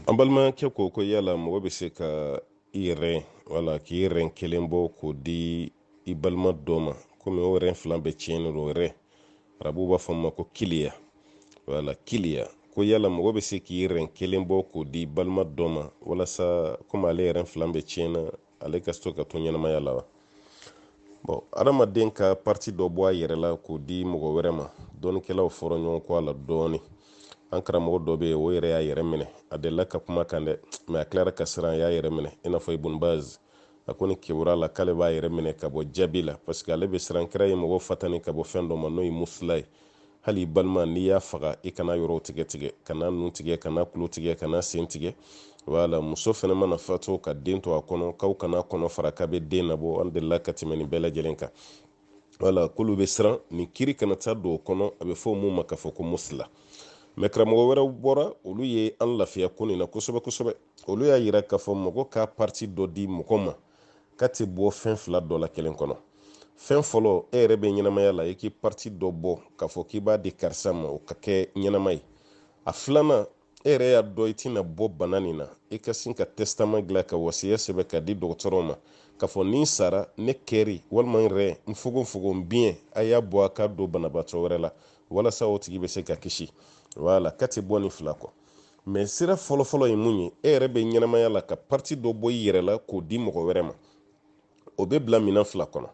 an balimakɛ ko ko yala mɔgɔ bɛ se ka i rɛn wala k'i rɛn kelen bɔ k'o di i balima dɔ ma komi o rɛn fila bɛɛ tiɲɛnen don rɛn arabuw b'a fɔ ma ko kiliya wala kiliya ko yala mɔgɔ bɛ se k'i rɛn kelen bɔ k'o di balima dɔ ma walasa komi ale rɛn fila bɛɛ tiɲɛna ale ka to ka to ɲɛnamaya la wa bɔn adamaden ka parti dɔ bɔ a yɛrɛ la k'o di mɔgɔ wɛrɛ ma dɔnnikɛlaw fɔra ɲɔgɔn kɔ a la dɔɔni an karamɔgɔ dɔ bɛ yen o yɛrɛ y'a yɛrɛ minɛ a delila ka kuma kan dɛ mɛ a tilara ka siran a y'a yɛrɛ minɛ i n'a fɔ ibun baz a ko ni kebura la k'ale b'a yɛrɛ minɛ ka bɔ jaabi la parce que ale bɛ siran kira ye mɔgɔ fatani ka bɔ fɛn dɔ ma n'o ye musula ye hali i balima n'i y'a faga i kana yɔrɔw tigɛ tigɛ kana nun tigɛ kana tulo tigɛ kana sen tigɛ wala muso fɛnɛ mana fatu ka den to a kɔnɔ k'aw kana kɔnɔ fara k'a bɛ den nabɔ an delila ka tɛmɛ nin bɛɛ lajɛlen kan wala k'olu bɛ siran nin kiri kana taa don o kɔnɔ a bɛ fɔ mun ma k'a fɔ ko musula mɛ karamɔgɔ wɛrɛw bɔra olu ye an lafiya ko nin na kosɛbɛ kosɛbɛ olu y'a yira k'a fɔ mɔgɔ ka parti dɔ di mɔgɔ ma k'a tɛ bɔ fɛn fila dɔ la kelen kɔnɔ fɛn fɔlɔ e yɛrɛ bɛ ɲɛnamaya la i k'i pariti dɔ bɔ k'a fɔ k'i b'a di karisa ma o ka kɛ ɲɛnama ye a filanan e yɛrɛ y'a dɔn i tɛna bɔ bana nin na i ka sin ka tɛsitama dilan ka wasiya sɛbɛn k'a di dɔgɔtɔrɔw ma k'a fɔ ni n sara ne kɛri walima n rɛn n fogonfogon n biɲɛ a y'a bɔ a k'a don banabaatɔ wɛrɛ la walasa o tigi bɛ se ka kisi wala k'a tɛ bɔ nin fila kɔ mɛ sira fɔlɔfɔlɔ ye mun ye e yɛrɛ bɛ ɲɛnamaya la ka pariti dɔ bɔ i yɛrɛ la k'o di mɔgɔ wɛrɛ ma o bɛ bila minɛn fila kɔnɔ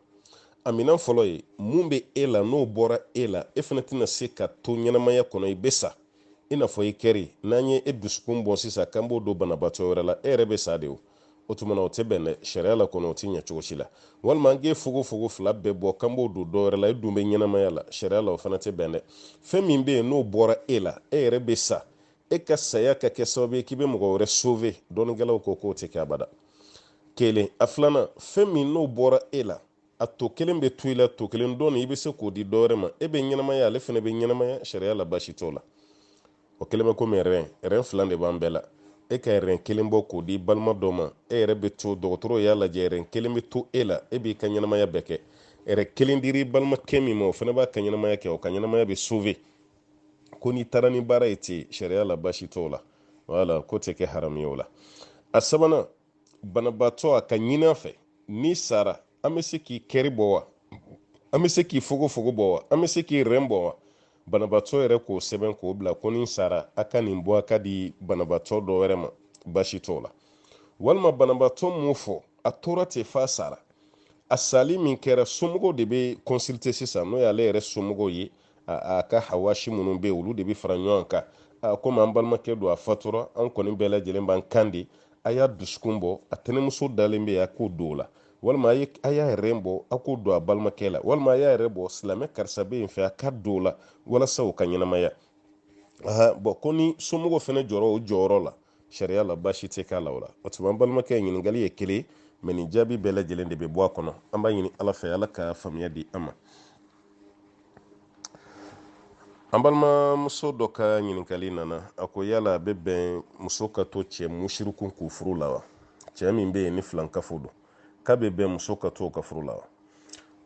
a minɛn fɔlɔ ye mun bɛ e la n'o bɔra e la e fana tɛna se ka to ɲɛnamaya kɔnɔ i bɛ sa i n'a fɔ i kɛri n'an ye e dusukun bɔ sisan k'an b'o don banabaatɔ wɛrɛ la e yɛrɛ bɛ sa de o o tuma na o tɛ bɛn dɛ sariya la kɔnɔ o tɛ ɲɛ cogo si la walima an k'e fogofogo fila bɛɛ bɔ k'an b'o don dɔwɛrɛ la e dun bɛ ɲɛnamaya la sariya la o fana tɛ bɛn dɛ fɛn min bɛ yen n'o bɔra e la e yɛrɛ bɛ sa e ka saya ka kɛ sababu ye k'i bɛ mɔgɔ wɛrɛ sauver dɔnnikɛlaw ko k'o tɛ kɛ abada kelen a filanan fɛn min n'o bɔra e la a tɔ kelen bɛ to i la tɔ kelen dɔ nin i bɛ se k'o di dɔwɛrɛ ma e bɛ ɲɛnamaya ale fana bɛ ɲɛnamaya sariya la baasi t'o la o kelen bɛ komi rɛn rɛn fila de b'an bɛɛ la e ka rɛn kelen bɔ k'o di balima dɔ ma e yɛrɛ bɛ to dɔgɔtɔrɔw y'a lajɛ rɛn kelen bɛ to e la e b'i ka ɲɛnamaya bɛɛ kɛ rɛn kelen diri balimakɛ min ma o fana b'a ka ɲɛnamaya kɛ o ka ɲɛnamaya bɛ sauver ko n'i taara ni baara ye ten sariya la baasi t'o la wala k'o tɛ kɛ haramu ye o la a sabanan banabaatɔ a k'a ɲin'a fɛ n'i sara an bɛ se k'i kɛri bɔ wa an bɛ se k'i fogofogo bɔ wa an bɛ se k'i rɛn bɔ wa banabaatɔ yɛrɛ k'o sɛbɛn k'o bila ko ni n sara a ka nin bɔ a k'a di banabaatɔ dɔ wɛrɛ ma baasi t'o la walima banabaatɔ m'o fɔ a tora ten f'a sara a sali min kɛra somɔgɔw de bɛ consulter sisan n'o y'ale yɛrɛ somɔgɔw ye a ka hawasi minnu bɛ olu de bɛ fara ɲɔgɔn kan komi an balimakɛ don a fatura an kɔni bɛɛ lajɛlen b'an kan de a y'a dusukun bɔ a tɛnɛmuso dalen bɛ yen a k'o don o la walima a y'a ɛrɛn bɔ a k'o don a balimakɛ la walima a y'a yɛrɛ bɔ silamɛ karisa bɛ yen fɛ a k'a don o la walasa o ka ɲɛnamaya bɔn ko ni somɔgɔw fana jɔra o jɔyɔrɔ la sariya la baasi tɛ k'a la o la o tuma an balimakɛ ɲininkali ye kelen mɛ nin jaabi bɛɛ lajɛlen de bɛ bɔ a kɔnɔ an b'a ɲini ala fɛ ala ka faamuya di an ma an balimamuso dɔ ka ɲininkali nana a ko yala a bɛ bɛn muso ka to cɛ musiriku kun furu la wa cɛɛ min bɛ yen ni filankafo don k'a bɛ bɛn muso ka to ka furu la wa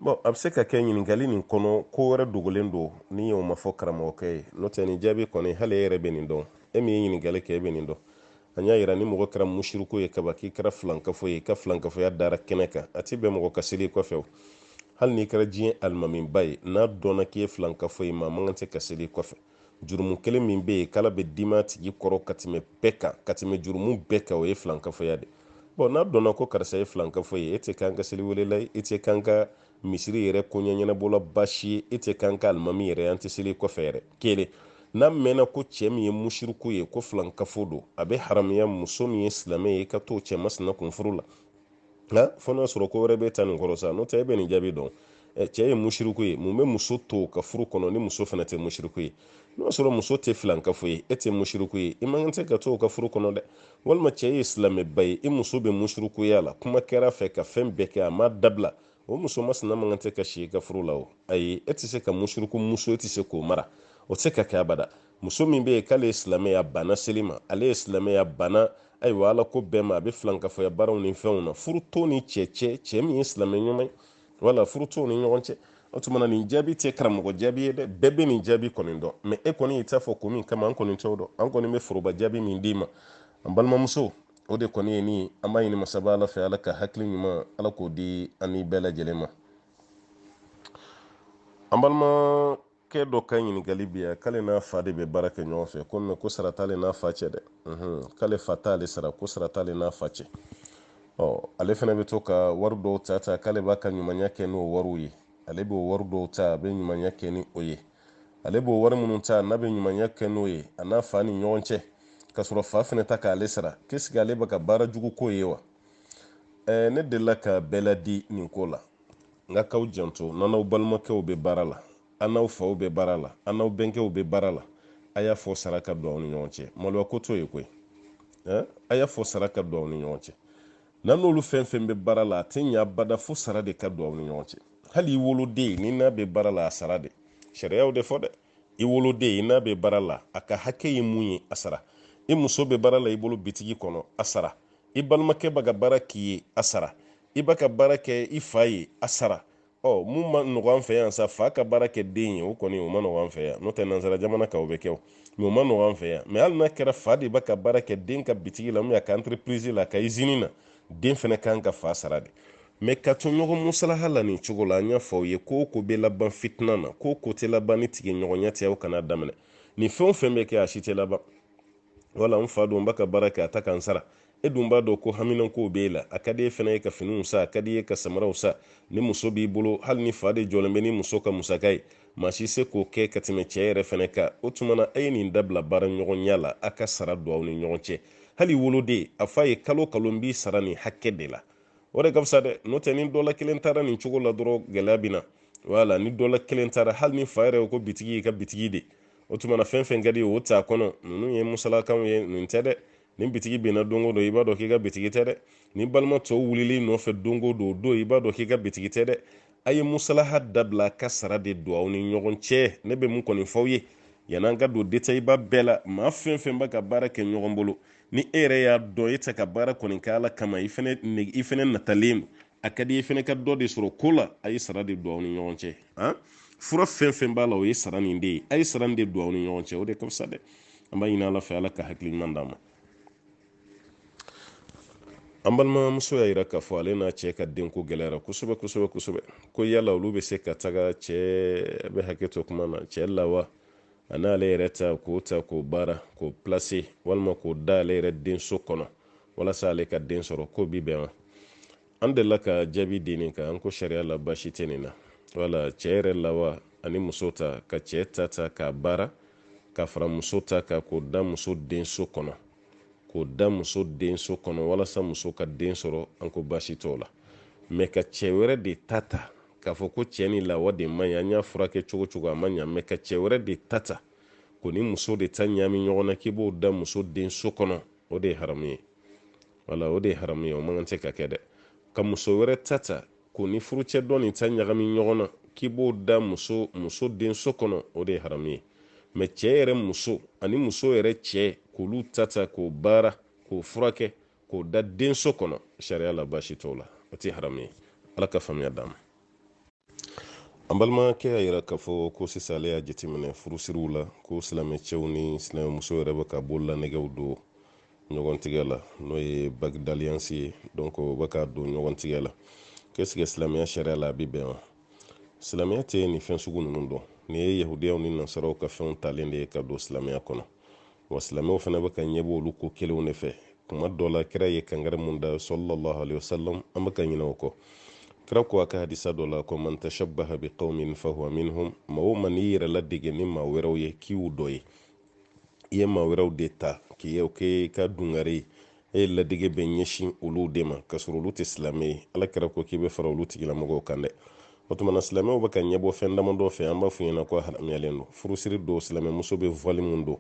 bɔn a bɛ se ka kɛ ɲininkali nin kɔnɔ ko wɛrɛ dogolen don ni e m'a fɔ karamɔgɔkɛ ye n'o tɛ nin jaabi kɔni hali e yɛrɛ bɛ nin dɔn e min ye ɲininkali kɛ e bɛ nin dɔn an y'a yira ni mɔgɔ kɛra musiriku ye kaban k'i kɛra filankafo ye i ka filankafoya dara kɛnɛ kan a tɛ bɛn mɔgɔ ka seli kɔfɛ o hali n'i kɛra diɲɛ alimamiba ye n'a dɔnna k'i ye filankafo ye maa man kan tɛ ka seli kɔfɛ jurumu kelen min bɛ yen k'ala bɛ dimi a tigi kɔrɔ ka tɛmɛ bɛɛ kan ka tɛmɛ jurumu bɛɛ kan o ye filankafoya de bɔn n'a dɔnna ko karisa ye filankafo ye e tɛ k'an ka seli welela ye e tɛ k'an ka misiri yɛrɛ koɲɛ ɲɛnabɔla baasi ye e tɛ k'an ka alimami yɛrɛ an tɛ seli kɔfɛ yɛrɛ kelen n'a mɛnna ko cɛ min ye musiriku ye ko filankafo don a bɛ haramuya muso min ye silamɛ ye i ka t'o cɛ masina kun furu la nka fo n'a sɔrɔ ko wɛrɛ b'i ta nin kɔrɔ sa n'o tɛ e bɛ nin jaabi dɔn cɛ ye musiriku ye mun bɛ muso t'o ka furu kɔnɔ ni muso fana tɛ musiriku ye n'o sɔrɔ muso tɛ filankafo ye e tɛ musiriku ye i man kan tɛ ka t'o ka furu kɔnɔ dɛ walima cɛ ye silamɛba ye i muso bɛ musirikuya la kuma kɛra a fɛ ka fɛn bɛɛ kɛ a ma dabila o muso masina man kan tɛ ka si i ka furu la o ayi e tɛ se ka musiriku muso e tɛ se k'o mara o tɛ se ka kɛ abada muso min bɛ yen k'ale ye silamɛ ye a banna seli ma ale ye silamɛ ye a banna ayiwa ala ko bɛɛ ma a bɛ filankafɔya baaraw ni fɛnw na furu t'o ni cɛ cɛ cɛ min ye silamɛ ɲuman ye wala furu t'o ni ɲɔgɔn cɛ o tuma na nin jaabi tɛ karamɔgɔ jaabi ye dɛ bɛɛ bɛ nin jaabi kɔni dɔn mɛ e kɔni y'i ta fɔ ko min kama an kɔni t'o dɔn an kɔni bɛ foroba jaabi min d'i ma an balimamuso o de kɔni ye nin an b'a ɲini masaba ala fɛ ala ka hakili ɲuman ala k'o di an ni bɛɛ lajɛlen ma an balima kɛ dɔ ka ɲininkali bɛ yan k'ale n'a fa de bɛ baara kɛ ɲɔgɔn fɛ ko mɛ ko sara t'ale n'a fa cɛ dɛ k'ale fa t'ale sara ko sara t'ale n'a fa cɛ ɔ ale fana bɛ to ka wari dɔw ta ta k'ale b'a ka ɲumanya kɛ n'o wariw ye ale b'o wari dɔw ta a bɛ ɲumanya kɛ ni o ye ale b'o wari minnu ta n'a bɛ ɲumanya kɛ n'o ye a n'a fa ni ɲɔgɔn cɛ k'a sɔrɔ fa fana tɛ k'ale sara k'est-ce que ale bɛ ka baara jugu k'o ye wa ne delila ka bɛɛ laadi nin ko la nka k'aw janto n'aw n'aw balimakɛw bɛ baara la aw n'aw faw bɛ baara la aw n'aw bɛnkɛw bɛ baara la a y'a fɔ sara ka don aw ni ɲɔgɔn cɛ maloya ko t'o ye koyi a y'a fɔ sara ka don aw ni ɲɔgɔn cɛ n'aw n'olu fɛn fɛn bɛ baara la a tɛ ɲa bada fo sara de ka don aw ni ɲɔgɔn cɛ hali i woloden nin n'a bɛ baara la a sara de sariya y'o de fɔ dɛ i woloden i n'a bɛ baara la a ka hakɛ ye mun ye a sara i muso bɛ baara la i bolo bitigi kɔnɔ a sara i balimakɛ bɛ ka baara k'i ye a sara i bɛ ka baara kɛ i fa ye a sara ɔ mun man nɔgɔ an fɛ yan sa fa ka baara kɛ den ye o kɔni o man nɔgɔ an fɛ yan n'o tɛ nansara jamana kan o bɛ kɛ o mɛ o man nɔgɔ an fɛ yan mɛ hali n'a kɛra fa de bɛ ka baara kɛ den ka bitigi la a ka entreprise la a ka izini na den fana kan ka fa sara de mɛ ka to ɲɔgɔn musalaha la nin cogo la an y'a fɔ aw ye ko o ko bɛ laban fitina na ko o ko tɛ laban ni tigɛ ɲɔgɔnya tɛ aw kana daminɛ nin fɛn o fɛn bɛ kɛ a si tɛ laban wala n fa don n b'a ka baara kɛ a tɛ ka n sara e dun b'a dɔn ko haminankow b'e la a ka di e fana ye ka finiw san a ka d'i ye ka samaraw san ni muso b'i bolo hali n'i fa de jɔlen bɛ n'i muso ka musaka ye maa si se k'o kɛ ka tɛmɛ cɛ yɛrɛ fana kan o tuma na a ye nin dabila baara ɲɔgɔnya la a ka sara don aw ni ɲɔgɔn cɛ hal'i woloden a f'a ye kalo kalo n b'i sara nin hakɛ de la o de ka fisa dɛ n'o tɛ ni dɔ la kelen taara nin cogo la dɔrɔn gɛlɛya bɛ na wala ni dɔ la kelen taara hali n'i fa yɛrɛ ko bitigi y'i ka bitigi de o tuma na fɛn fɛn ka di o t'a kɔnɔ ninnu ye musalakanw ye nin tɛ dɛ ni bitigi binna don o don i b'a dɔn k'i ka bitigi tɛ dɛ n'i balima tɔw wulil'i nɔfɛ don o don o don i b'a dɔn k'i ka bitigi tɛ dɛ a ye musalaha dabila ka sara de don aw ni ɲɔgɔn cɛ ne bɛ mun kɔni f'aw ye yan'an ka don detayiba bɛɛ la maa fɛn fɛn bɛ ka baara kɛ ɲɔgɔn bolo ni e yɛrɛ y'a dɔn e tɛ ka baara kɔni kɛ ala kama i fɛnɛ i fɛnɛ natalen a ka di i fɛnɛ ka dɔ de sɔrɔ ko la a ye sara de don aw ni ɲɔgɔn cɛ han fura fɛn fɛn b'a la o ye sara nin de ye a ye sara nin de don aw ni ɲɔgɔn cɛ o de ka fisa dɛ an b'a ɲini ala fɛ ala ka hakili ɲuman d'an ma an balimamuso y'a yira k'a fɔ ale n'a cɛ ka denko gɛlɛyara kosɛbɛ kosɛbɛ kosɛbɛ ko yala olu bɛ se ka taga cɛ bɛ hakɛ to kuma na cɛ lawa a n'ale yɛrɛ ta k'o ta k'o baara k'o pilase walima k'o da ale yɛrɛ denso kɔnɔ walasa ale ka den sɔrɔ k'o bi bɛn wa an delila ka jaabi di nin kan an ko sariya la baasi tɛ nin na wala cɛ yɛrɛ lawa ani muso ta ka cɛ ta ta k'a baara ka fara muso ta kan k'o da muso denso kɔnɔ k'o da muso denso kɔnɔ walasa muso ka den sɔrɔ an ko baasi t'o la mɛ ka cɛ wɛrɛ de ta ta k'a fɔ ko cɛ nin lawa de man ɲi an y'a furakɛ cogo cogo a ma ɲa mɛ ka cɛ wɛrɛ de ta ta k'o ni muso de ta ɲaami ɲɔgɔn na k'i b'o da muso denso kɔnɔ o de ye haramu ye wala o de ye haramu ye o man kan tɛ ka kɛ dɛ ka muso wɛrɛ ta ta k'o ni furucɛ dɔ nin ta ɲagami ɲɔgɔn na k'i b'o da muso muso denso kɔnɔ o de ye haramu ye mɛ cɛɛ yɛrɛ muso ani muso yɛrɛ cɛɛ k'olu ta ta k'o baara k'o furakɛ k'o da denso kɔnɔ sariya la baasi t'o la o tɛ haramu ye ala ka faamuya d'an ma an balimakɛ y'a yira k'a fɔ ko sisan ale y'a jateminɛ furusiriw la ko silamɛcɛw ni silamɛmuso yɛrɛ bɛ ka bololanɛgɛw don ɲɔgɔn tigɛ la n'o ye bague d'alliance ye donc u bɛ ka don ɲɔgɔn tigɛ la qu'est-ce que silamɛya sariya la a bɛ bɛn wa silamɛya tɛ nin fɛn sugu ninnu dɔn nin ye yahudiyaw ni nasaraw ka fɛnw talen de ye ka don silamɛya kɔnɔ wa silamɛw fana bɛ ka ɲɛbɔ olu ko kelenw de fɛ kuma dɔ la kira ye kangari mun da sallallahu alaihi wasallam an bɛ ka ɲinɛ o kɔ kira ko a ka hadisa dɔ la ko man tashabbaha bi qaumin fahuwa minhum maa o maa n'i yɛrɛ ladege ni maa wɛrɛw ye k'i y'u dɔ ye i ye maa wɛrɛw de ta k'u k'i ka dungare ye e ye ladege bɛ ɲɛsin olu de ma k'a sɔrɔ olu tɛ silamɛ ye ala kira ko k'i bɛ fara olu tigilamɔgɔw kan dɛ o tuma na silamɛw bɛ ka ɲɛbɔ fɛn damadɔ fɛ an b'a f'u ɲɛna ko haramuyalen don furusiri don silamɛmuso bɛ voile min don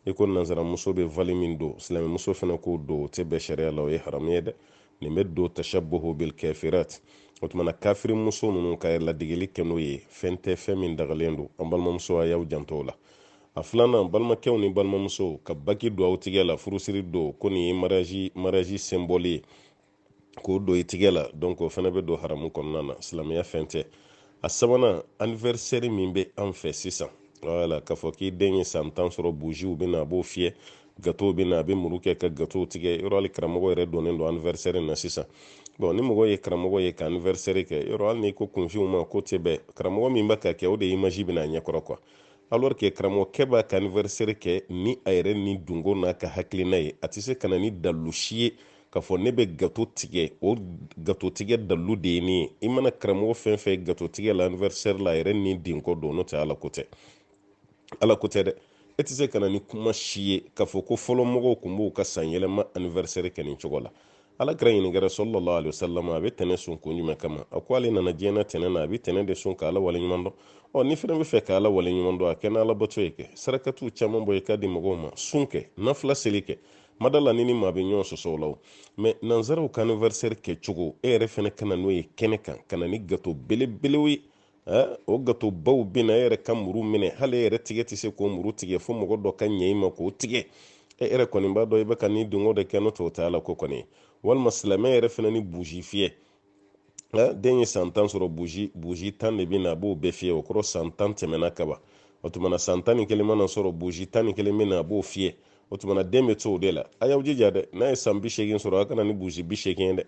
i ko nansaramuso bɛ voile min don silamɛmuso fana k'o don o tɛ bɛn sariya la o ye haramu ye dɛ nin bɛ don tashabbuhu bil kafirat o tuma na kafiri muso ninnu ka ladegeli kɛ n'o ye fɛn tɛ fɛn min dagalen don an balimamuso a y'aw janto o la A filanan balimakɛw ni balimamusow ka bague don aw tigɛ la furusiri don ko nin ye mariage mariage symbole ye k'o don i tigɛ la donc o fana bɛ don haramu kɔnɔna na silamɛya fɛn tɛ a sabanan anniversaire min bɛ an fɛ sisan wala k'a fɔ k'i den ye san tan sɔrɔ buziw bɛ na a b'o fiyɛ gatow bɛ na a bɛ muru kɛ ka gatow tigɛ yɔrɔ hali karamɔgɔ yɛrɛ donnen don anniversaire na sisan bon ni mɔgɔ ye karamɔgɔ ye ka anniversaire kɛ yɔrɔ hali n'i ko kunfinw ma ko tɛ bɛn karamɔgɔ min bɛ ka kɛ o de image bɛna a ɲɛkɔrɔ quoi alors que karamɔgɔkɛ b'a ka anniversaire kɛ ni a yɛrɛ ni dungo n'a ka hakilina ye a tɛ se ka na ni dalilu si ye k'a fɔ ne bɛ gato tigɛ o gato tigɛ dalilu de ye nin ye i mana karamɔgɔ fɛn fɛn gato tigɛ la anniversaire la a yɛrɛ ni dungo don n'o tɛ ala ko tɛ ala ko tɛ dɛ e tɛ se ka na ni kuma si ye k'a fɔ ko fɔlɔ mɔgɔw tun b'u ka sanyɛlɛma anniversaire kɛ nin cogo la ala kira ɲininkɛra sallallahu alaihi wasallam a bɛ tɛnɛ sun kun jumɛn kama a ko ale nana diɲɛ na tɛnɛ na a bɛ tɛnɛ de sun ka ala waleɲuman dɔn ɔ n'i fɛnɛ b'a fɛ ka ala waleɲuman dɔn a kɛ n'ala bato ye kɛ sarakatiw caman bɔ i k'a di mɔgɔw ma sun kɛ nafila seli kɛ mada la ni ni maa bɛ ɲɔgɔn sɔsɔ o la o mɛ nanzaraw ka anniversaire kɛ cogo e yɛrɛ fɛnɛ ka na n'o ye kɛnɛ kan ka na ni gato belebelew ye o gatobaw bɛ na e yɛrɛ ka muru minɛ hali e yɛrɛ tigɛ tɛ se k'o muru tigɛ fo mɔgɔ dɔ ka ɲɛ i ma k'o tigɛ e yɛrɛ kɔni b'a dɔn i bɛ ka ni dungo de kɛ n'o tɛ o tɛ ala ko kɔni walima silamɛ yɛrɛ fana ni buji fiyɛ den ye san tan sɔrɔ buji buji tan de bɛ na a b'o bɛɛ fiyɛ o kɔrɔ san tan tɛmɛna kaban o tuma na san tan ni kelen mana sɔrɔ buji tan ni kelen bɛ na a b'o fiyɛ o tuma na den bɛ to o de la a y'aw jija dɛ n'a ye san bi seegin sɔrɔ a ka na ni buji bi seegin ye dɛ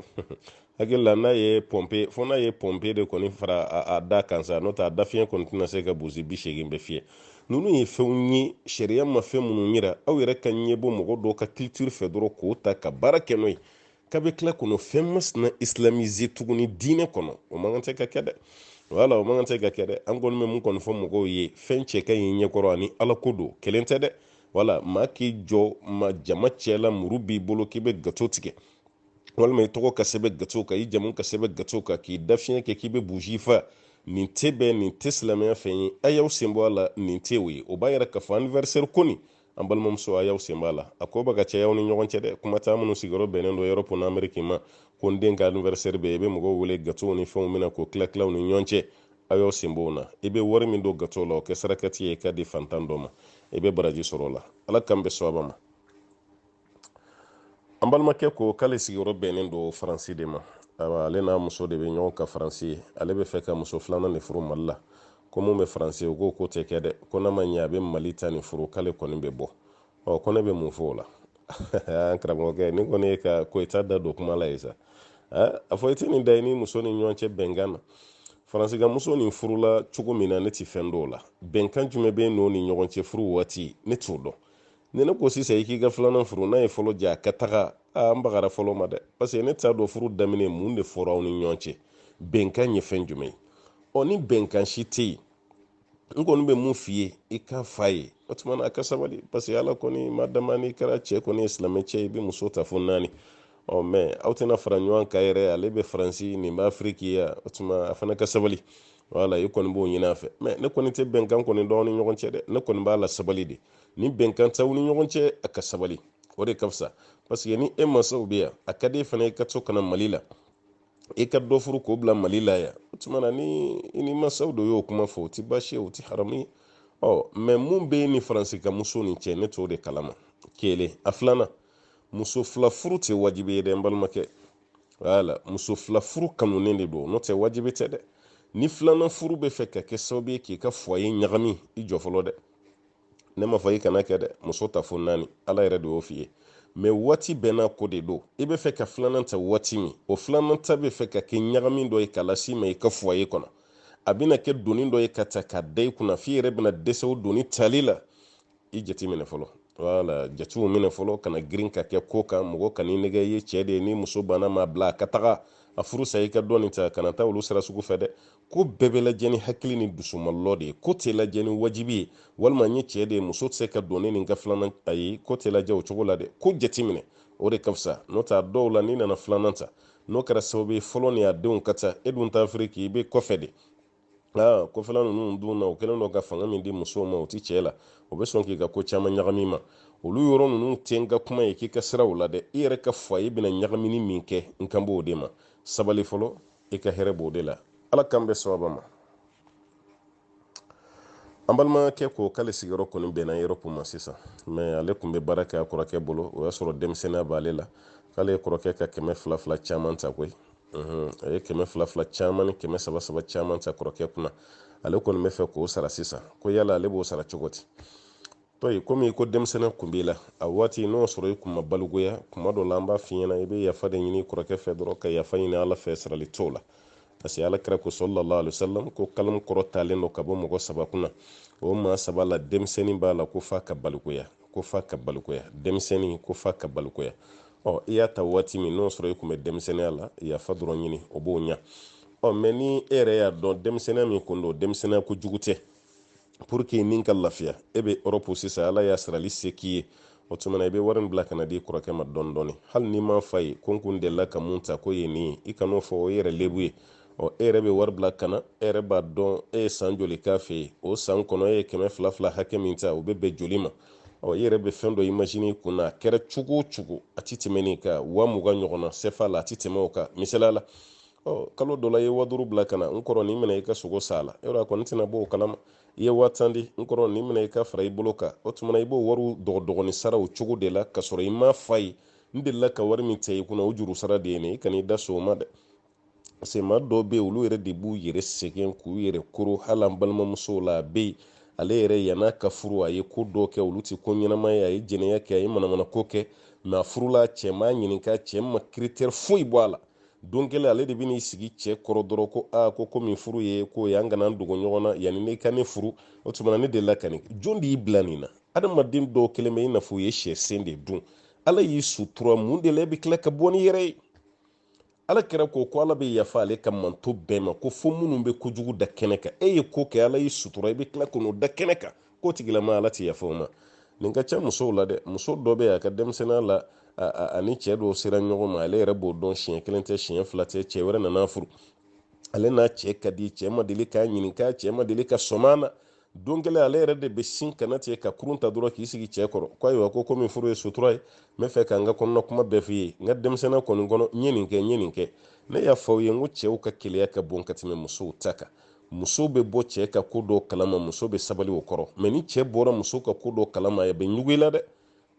hakili la n'a ye pɔnpe fo n'a ye pɔnpe de kɔni fara a da kan sa n'o tɛ a dafiɲɛ kɔni tɛna se ka buji bi seegin bɛɛ fiyɛ ninnu ye fɛnw ye sariya ma fɛn minnu yira aw yɛrɛ ka ɲɛbɔ mɔgɔ dɔw ka culture fɛ dɔrɔn k'o ta ka baara kɛ n'o ye k'a bɛ tila kɔnɔ fɛn masina islamiser tuguni diinɛ kɔnɔ o man kan tɛ ka kɛ dɛ wala o man kan tɛ ka kɛ dɛ an kɔni bɛ mun kɔni fɔ mɔgɔw ye fɛn cɛ ka ɲi ɲɛkɔrɔ ani ala ko don kelen tɛ dɛ wala maa k'i jɔ ma jama cɛla muru b'i bolo k'i bɛ gato tigɛ walima i tɔgɔ ka sɛbɛn gato kan i jamu ka sɛbɛn gato kan k'i da fiɲɛ kɛ k'i bɛ buji fa nin tɛ bɛn nin tɛ silamɛya fɛn ye a y'aw sen bɔ a la nin tɛ o ye o b'a yɛrɛ k'a fɔ anniversaire ko nin an balimamuso a y'aw sen b'a la a ko bɛ ka caya aw ni ɲɔgɔn cɛ dɛ kuma tɛ minnu sigiyɔrɔ bɛnnen don europe ni ameriki ma ko n den ka anniversaire bɛ i bɛ mɔgɔw wele gatow ni fɛnw bɛ na k'o tila tila aw ni ɲɔgɔn cɛ a y'aw sen b'o la i bɛ wari min don gato la o kɛ sarakati ye k'a di fantan dɔ ma i bɛ baraji sɔrɔ o la ala k'an bɛn sawaba ma an balimakɛ ko k'ale sigiyɔrɔ bɛnnen don faransi de ma awa ale n'a muso de bɛ ɲɔgɔn kan faransi yen ale bɛ fɛ ka muso filanan de furu mali la ko min bɛ faransi o k'o ko tɛ kɛ dɛ ko n'a ma ɲɛ a bɛ mali ta nin furu k'ale kɔni bɛ bɔ ɔ ko ne bɛ mun fɔ o la an karamɔgɔkɛ nin kɔni ye ka koyita da don kuma la ye sa a fɔ i tɛ nin da i ni muso ni ɲɔgɔn cɛ bɛnkan na faransi ka muso nin furula cogo min na ne tɛ fɛn dɔn o la bɛnkan jumɛn bɛ n'o ni ɲɔgɔn cɛ furu waati ne t'o dɔn ni ne ko sisan i k'i ka filanan furu n'a ye fɔlɔ jɛ a ka taga a n bagara fɔlɔ ma dɛ paseke ne t'a dɔn furu daminɛ mun de fɔra aw ni ɲɔgɔn cɛ bɛnkan ye fɛn jumɛn ye ɔ ni bɛnkan si tɛ yen n kɔni bɛ min f'i ye i k'a f'a ye o tuma na a ka sabali parce que ala kɔni ma dama n'i kɛra cɛ kɔni ye silamɛ cɛ ye i bɛ muso ta fo naani ɔ mɛ aw tɛna fara ɲɔgɔn kan yɛrɛ ale bɛ faransi nin bɛ afiriki yan o tuma a fana ka sabali wala i kɔni b'o ɲini a fɛ mɛ ne kɔni tɛ bɛnkan kɔni dɔn aw ni ɲɔgɔn cɛ dɛ ne kɔni b'a lasabali de ni bɛnkan t'aw ni ɲɔgɔn cɛ a ka sabali o de ka fisa paseke ni e mansaw bɛ yan a ka di e fana ye ka to ka na mali la i ka dɔ furu k'o bila mali la yan o tuma na ni i ni mansaw dɔ y'o kuma fɔ o tɛ baasi ye o tɛ haramu ye ɔ mɛ mun b'i ni faransi ka muso nin cɛ ne t'o de kalama kelen a filanan muso fila furu tɛ wajibi ye dɛ n balimakɛ wala muso fila furu kanunen de don n'o tɛ wajibi tɛ dɛ ni filanan furu bɛ fɛ ka kɛ sababu ye k'i ka foyer ɲagami i jɔ fɔlɔ dɛ ne ma fɔ i kana kɛ dɛ muso ta fo naani ala yɛrɛ de y'o f'i ye mɛ waati bɛɛ n'a ko de don i bɛ fɛ ka filanan ta waati min o filanan ta bɛ fɛ ka kɛ ɲagami dɔ ye ka lase i ma i ka foyer kɔnɔ a bɛna kɛ doni dɔ ye ka ta ka da i kunna f'i yɛrɛ bɛna dɛsɛ o doni tali la i jate minɛ fɔlɔ wala jatew minɛ fɔlɔ kana girin ka kɛ ko kan mɔgɔ kan'i nɛgɛn i ye cɛ de ye ni muso banna ma bila a ka taga a furu sa i ka dɔɔni ta kana taa olu sira sugu fɛ dɛ ko bɛɛ bɛ lajɛ ni hakili ni dusumalɔ de ye ko tɛ lajɛ ni wajibi ye walima n ye cɛ de ye muso tɛ se ka don ne ni n ka filanan ayi ko tɛ lajɛ o cogo la dɛ ko jateminɛ o de ka fisa n'o tɛ a dɔw la n'i nana filanan ta n'o kɛra sababu ye fɔlɔ ni a denw ka ca e dun t'a firi k'i bɛ kɔfɛ de aa kɔfɛla ninnu dun na o kɛlen don ka fanga min di musow ma o tɛ cɛ la o bɛ sɔn k'i ka ko caman ɲagami ma olu yɔrɔ ninnu tɛ n ka kuma ye k'i ka siran o la dɛ i yɛrɛ ka foyer bɛna ɲagamini min kɛ n kan b'o de ma sabali fɔlɔ i ka hɛrɛ b'o de la ala k'an bɛn sababu ma an balimakɛ ko k'ale sigiyɔrɔ kɔni bɛnna europe ma sisan mɛ ale tun bɛ baara kɛ a kɔrɔkɛ bolo o y'a sɔrɔ denmisɛnniya b'ale la k'ale ye kɔrɔkɛ ka kɛmɛ fila fila caman ta koyi a ye kɛmɛ fila fila caman ni kɛmɛ saba saba caman ta kɔrɔkɛ kunna ale kɔni bɛ fɛ k'o sara sisan ko yala ale b'o sara cogo di tɔyi komi i ko denmisɛnniya kun b'i la a waati n'o sɔrɔ i kun ma balikuya kuma dɔ la an b'a f'i ɲɛna i bɛ yafa de ɲini kɔrɔkɛ fɛ dɔrɔn ka yafa ɲini ala fɛ sarali t'o la parce que alakira ko sallallahu alayhi wasallam ko kalamu kɔrɔtalen don ka bɔ mɔgɔ saba kunna o maa saba la denmisɛnnin b'a la ko f'a ka balikuya ko f'a ka balikuya denmisɛnnin ko f'a ka balikuya ɔ i y'a ta waati min n'o sɔrɔ i kun bɛ denmisɛnniya la yafa dɔrɔn ɲini o b'o ɲa ɔ mɛ ni e yɛrɛ y'a dɔn denmisɛnniya min kun don denmisɛnniya ko jugu tɛ pour que i ni ka lafiya e bɛ europe sisan ala y'a sarali se k'i ye o tuma na i bɛ wari in bila ka na di kɔrɔkɛ ma dɔɔni dɔɔni hali n'i m'a f'a ye ko n kun delila ka min ta k'o ye nin ye i kan'o fɔ o ye yɛrɛ lebu ye ɔ e yɛrɛ bɛ wari bila ka na e yɛrɛ b'a dɔn e ye san joli k'a fɛ yen o san kɔnɔ e ye kɛmɛ fila fila hakɛ min ta o bɛ bɛn joli ma ɔ i yɛrɛ bɛ fɛn dɔ imagine kun na a kɛra cogo o cogo a ti tɛmɛ nin kan waa mugan ɲɔgɔnna sefa la a ti tɛmɛ o kan misaliya la ɔ kalo dɔ la i ye waa duuru bila ka na n kɔrɔ nin minɛ i ka sogo san a la yɔrɔ a kɔni tɛna b'o kalama i ye waa tan di n kɔrɔ nin minɛ i k'a fara i bolo kan o tuma na i b'o wariw dɔgɔdɔgɔni sara o cogo de la ka sɔrɔ i m'a f'a ye n delila ka wari min cɛ i kunna o juru sara de ye nin i kan'i da se o ma dɛ parce que maa dɔw bɛ yen olu yɛrɛ de b'u yɛrɛ sɛgɛn k'u yɛrɛ koro hali an balimamusow la a bɛ yen ale yɛrɛ yann'a ka furu a ye ko dɔ kɛ olu tɛ ko ɲɛnama ye a ye jɛnɛya kɛ a ye manamana ko kɛ mɛ a furula cɛ m'a ɲininka cɛ ma critère foyi bɔ a la don kelen ale de bɛ n'i sigi cɛ kɔrɔ dɔrɔn ko aa ko komi furu ye ko ye an kana dogo ɲɔgɔn na yanni e ka ne furu o tuma na ne delila ka nin jɔn de y'i bila nin na adamaden dɔw kɛlen bɛ i n'a fɔ u ye sɛ sen de dun ala y'i sutura mun de la e bɛ tila ka bɔ n'i yɛrɛ ye alakira ko ko ala bɛ yafa ale ka mantɔn bɛɛ ma ko fo minnu bɛ kojugu da kɛnɛ kan e ye ko kɛ ala y'i sutura i bɛ tila k'o da kɛnɛ kan k'o tigilama ala tɛ yafa o ma nin ka ca musow la dɛ muso dɔ bɛ yen a ka denmisɛnninya la a ni cɛ dɔw sera ɲɔgɔn ma ale yɛrɛ b'o dɔn siɲɛ kelen tɛ siɲɛ fila tɛ cɛ wɛrɛ nan'a furu ale n'a cɛ ka di cɛ ma deli k'a ɲininka cɛ ma deli ka sɔm'a na don kelen ale yɛrɛ de bɛ sin kana tigɛ ka kurun ta dɔrɔn k'i sigi cɛ kɔrɔ ko ayiwa ko komi furu ye sutura ye n bɛ fɛ ka n ka kɔnɔna kuma bɛɛ f'i ye n ka denmisɛnninya kɔni kɔnɔ n ye nin kɛ n ye nin kɛ ne y'a fɔ aw ye n ko cɛw ka keleya ka bon ka tɛmɛ musow ta kan muso bɛ bɔ cɛ ka ko dɔ kalama muso bɛ sabali o kɔrɔ mɛ ni cɛ bɔra muso ka ko dɔ kalama a bɛ ɲugu i la dɛ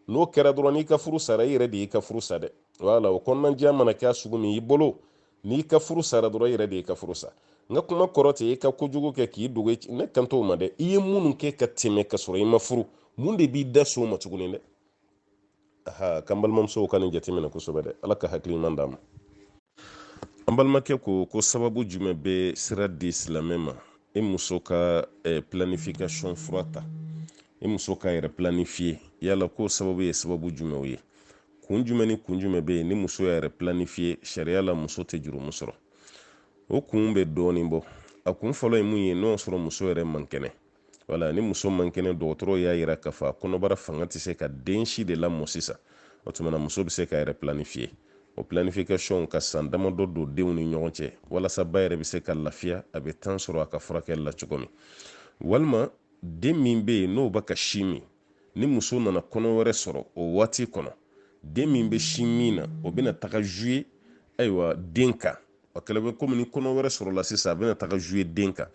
n'o kɛra dɔrɔn n'i ka furu sara i yɛrɛ de y'i ka furu sa dɛ wala o kɔnɔnajɛya mana kɛ sugu min i bolo n'i ka furu sara dɔrɔn i yɛrɛ de y'i ka furu sa n ka kuma kɔrɔ tɛ i ka kojugu kɛ k'i dogo ne kan t'o ma dɛ i ye minnu kɛ ka tɛmɛ ka sɔrɔ i ma furu mun de b'i da se o ma tuguni dɛ a ka kan balimamusow ka nin jateminɛ kosɛbɛ dɛ ala ka hakili ɲuman d'an ma an balimakɛ ko ko sababu jumɛn bɛ sira di silamɛ ma i muso ka eh, planification fura ta i muso k'a yɛrɛ planifiye yala ko sababu ye sababu jumɛnw ye kun jumɛn ni kun jumɛn bɛ yen ni muso y'a yɛrɛ planifiye sariya la muso tɛ jurumu sɔrɔ o kun bɛ dɔɔnin bɔ a kun fɔlɔ ye mun ye n'o y'a sɔrɔ muso yɛrɛ man kɛnɛ wala ni muso man kɛnɛ dɔgɔtɔrɔ y'a yira k'a fɔ a kɔnɔbara fanga tɛ se ka den si de lamɔ sisan o tuma na muso bɛ se k'a yɛrɛ planifiye o planification ka san damadɔ don denw ni ɲɔgɔn cɛ walasa ba yɛrɛ bɛ se ka lafiya a bɛ temps sɔrɔ a ka furakɛli la cogo min walima den min bɛ yen n'o bɛ ka sin min ni muso nana kɔnɔ wɛrɛ sɔrɔ o waati kɔnɔ den min bɛ sin min na o bɛna taga jouer ayiwa den kan o kɛlen bɛ komi ni kɔnɔ wɛrɛ sɔrɔla sisan a bɛna taga jouer den kan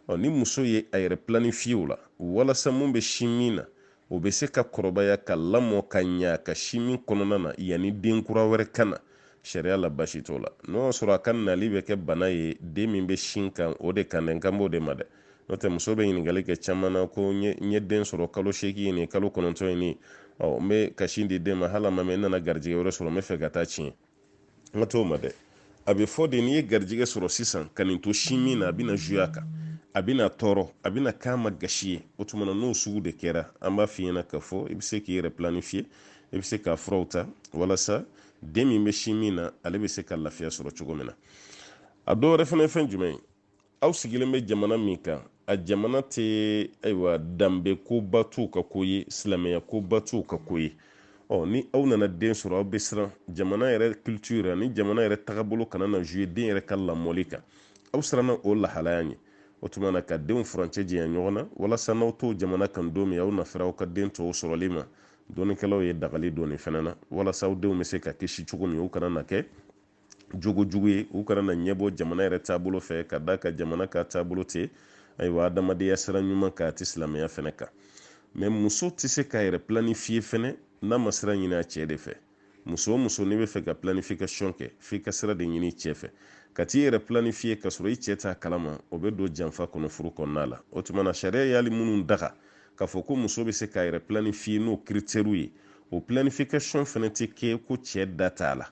ɔ ni muso ye a yɛrɛ planifiye o la walasa min bɛ sin min na o bɛ se ka kɔrɔbaya ka lamɔ ka ɲa ka sin min kɔnɔna na yanni den kura wɛrɛ ka na sariya la basi t'o la n'o y'a sɔrɔ a ka nali bɛ kɛ bana ye den min bɛ sin kan o de kan dɛ n kan b'o de ma dɛ n'o tɛ muso bɛ ɲininkali kɛ caman na ko n ye den sɔrɔ kalo seegin ye nin kalo kɔnɔntɔn ye nin ɔ n bɛ ka sin di den ma hali a ma mɛɛn n nana garijɛgɛ wɛrɛ sɔrɔ n bɛ fɛ ka taa tiɲɛ n kan t'o ma dɛ a bɛ fɔ de n'i ye garijɛgɛ sɔrɔ sisan ka nin to sin min na a bɛna jouer a kan a bɛna tɔɔrɔ a bɛna k'a ma gasi ye o tuma na n'o sugu de kɛra an b'a f'i ɲɛna k'a fɔ i bɛ se k'i yɛrɛ planifiye i bɛ se k'a furaw ta walasa den min bɛ sin min na ale bɛ se ka lafiya sɔrɔ cogo min na a dɔ wɛrɛ fana ye fɛn jumɛn ye aw sigilen bɛ jamana min kan a jamana tɛ ayiwa danbe koba t'u ka ko ye silamɛya koba t'u ka ko ye ɔ ni aw nana den sɔrɔ aw bɛ siran jamana yɛrɛ culture ani jamana yɛrɛ tagabolo kana na jouer den yɛrɛ ka lamɔli kan aw siranna o lahalaya ɲɛ o tuma na ka denw furancɛ janya ɲɔgɔn na walasa n'aw t'o jamana kan don min aw na fɛrɛ aw ka den tɔw sɔrɔli ma dɔnnikɛlaw ye dagali don nin fana na walasa aw denw bɛ se ka kisi cogo min u kana na kɛ jogo jugu ye u kana na ɲɛbɔ jamana yɛrɛ taabolo fɛ ka da a kan jamana ka taabolo tɛ ayiwa adamadenya sira ɲuman kan a tɛ silamɛya fɛnɛ kan mɛ muso tɛ se k'a yɛrɛ planifiye fɛnɛ n'a ma sira ɲini a cɛ de fɛ muso o muso n'i bɛ fɛ ka planification kɛ f'i ka sira de ɲini cɛ fɛ ka t'i yɛrɛ planifiye ka sɔrɔ i cɛ t'a kalama o bɛ don janfa kɔnɔ furu kɔnɔna la o tuma na sariya ye hali minnu daga k'a fɔ ko muso bɛ se k'a yɛrɛ planifiye n'o kiritɛriw ye o planification fɛnɛ tɛ kɛ ko cɛ da t'a la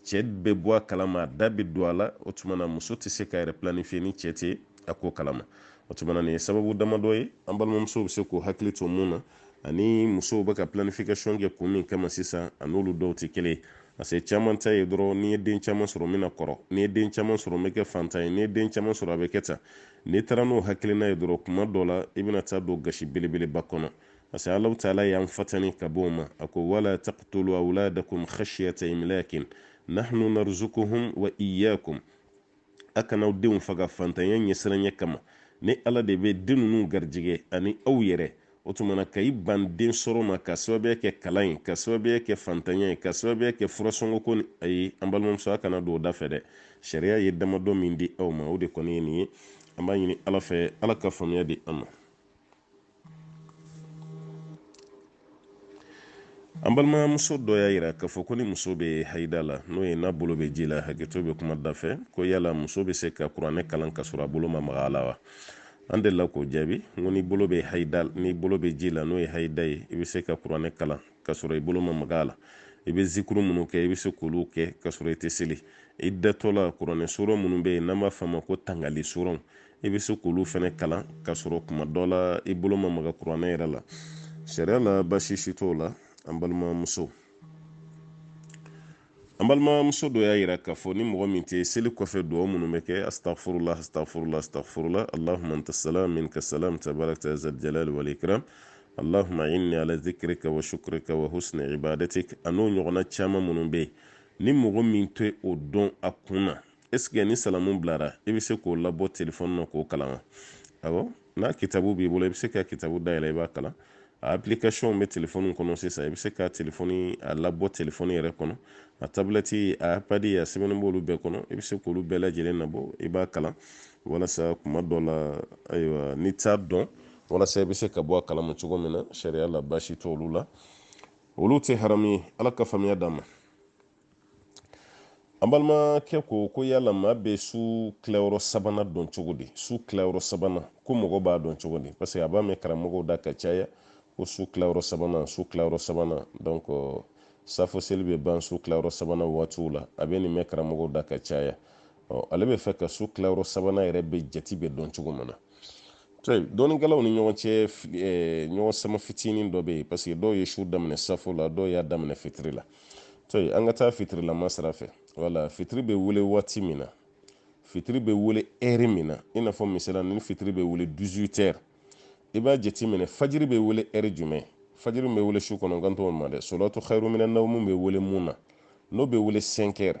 cɛ bɛ bɔ a kalama a da bɛ don a la o tuma na muso tɛ se k'a yɛrɛ planifiye ni cɛ tɛ a ko kalama o tuma na nin ye sababu damadɔ ye an balimamuso bɛ se k'u hakili to min na ani musow bɛ ka planification kɛ kun min kama sisan a n'olu dɔw tɛ kelen ye parce que caman ta ye dɔrɔn n'i ye den caman sɔrɔ n bɛna kɔrɔ n'i ye den caman sɔrɔ n bɛ kɛ fantan ye n'i ye den caman sɔrɔ a bɛ kɛ tan n'i taara n'o hakilina ye dɔrɔn kuma dɔ la i bɛna taa don gasi belebeleba kɔnɔ parce que alahu taala y'an fatani ka bɔ o ma a ko wala taqtulu awladakum khashyata imlakin nahnu narzukuhum wa iyyakum a kana aw denw faga fantanya ɲɛsiranya kama ne ala de bɛ den ninnu garijɛgɛ ani aw yɛrɛ o tuma na ka i ban den sɔrɔ ma ka sababuya kɛ kalan ye ka sababuya kɛ fantanya ye ka sababuya kɛ furasɔngɔko ni ayi an balimamuso a kana don o da fɛ dɛ sariya ye damadɔ min di aw ma o de kɔni ye nin ye an b'a ɲini ala fɛ ala ka faamuya di an ma an balimamuso dɔ y'a yira k'a fɔ ko ni muso bɛ hayida la n'o ye n'a bolo bɛ ji la hakɛto bɛ kuma da fɛ ko yala muso bɛ se ka kuranɛ kalan ka sɔrɔ a bolo ma maga a la wa an delila k'o jaabi n ko n'i bolo bɛ hayida n'i bolo bɛ ji la n'o ye hayida ye i bɛ se ka kuranɛ kalan ka sɔrɔ i bolo ma maga a la i bɛ zikuru minnu kɛ i bɛ se k'olu kɛ ka sɔrɔ i tɛ seli i datɔ la kuranɛ sura minnu bɛ yen n'an b'a f'a ma ko tangali suraw i bɛ se k'olu fana kalan ka sɔrɔ kuma dɔ la i bolo ma maga kuranɛ yɛrɛ la sariya la baasi si t'o la an balimamuso an balimamuso dɔ y'a yira k'a fɔ ni mɔgɔ min tɛ seli kɔfɛ dugawu minnu bɛ kɛ astaghfirullah astaghfirullah astaghfirullah allahumma anta salam minka salam tabarakta zal jalali wal ikram allahumma inni ala zikrika wa shukrika wa husni ibadatik a n'o ɲɔgɔnna caman minnu bɛ yen ni mɔgɔ min tɛ o dɔn a kun na est-ce que ni salamu bilara i bɛ se k'o labɔ telefɔni na k'o kalan wa awɔ n'a kitabu b'i bolo i bɛ se ka kitabu dayɛlɛ i b'a kalan a application bɛ telefɔni kɔnɔ sisan i bɛ se ka telefɔni a labɔ telefɔni yɛrɛ kɔnɔ a tabilɛti a ipadi a sɛbɛnni b'olu bɛɛ kɔnɔ i bɛ se k'olu bɛɛ lajɛlen nabɔ i b'a kalan walasa kuma dɔ la ayiwa n'i t'a dɔn walasa i bɛ se ka bɔ a kalama cogo min na sariya la baasi t'olu la olu tɛ haramu ye ala ka faamuya d'an ma an balimakɛ ko ko yala maa bɛ su tilayɔrɔ sabanan dɔn cogo di su tilayɔrɔ sabanan ko mɔgɔ b'a dɔn cogo di parce que a b'a mɛn karamɔgɔw da ka caya ko su tilayɔrɔ sabanan su tilayɔrɔ sabanan donc safo seli bɛ ban su tilayɔrɔ sabanan waatiw la a bɛ nin mɛn karamɔgɔw da ka caya ale b'a fɛ ka su tilayɔrɔ sabanan yɛrɛ bɛ jate bɛ dɔn cogo min na dɔnnikɛlaw ni ɲɔgɔn cɛ ɲɔgɔn sama fitinin dɔ bɛ yen parce que dɔw ye su daminɛ safo la dɔw y'a daminɛ fitiri la to yen an ka taa fitirilama sira fɛ wala fitiri bɛ wele waati min na fitiri bɛ wele ɛri min na i n'a fɔ misala ni fitiri bɛ wele 18 heures i b'a jateminɛ fajiri bɛ wele ɛri jumɛn fajiri min bɛ wele su kɔnɔ n kan t'o ma dɛ solatu khairu minan nawmu bɛ wele min na n'o bɛ wele 5 heures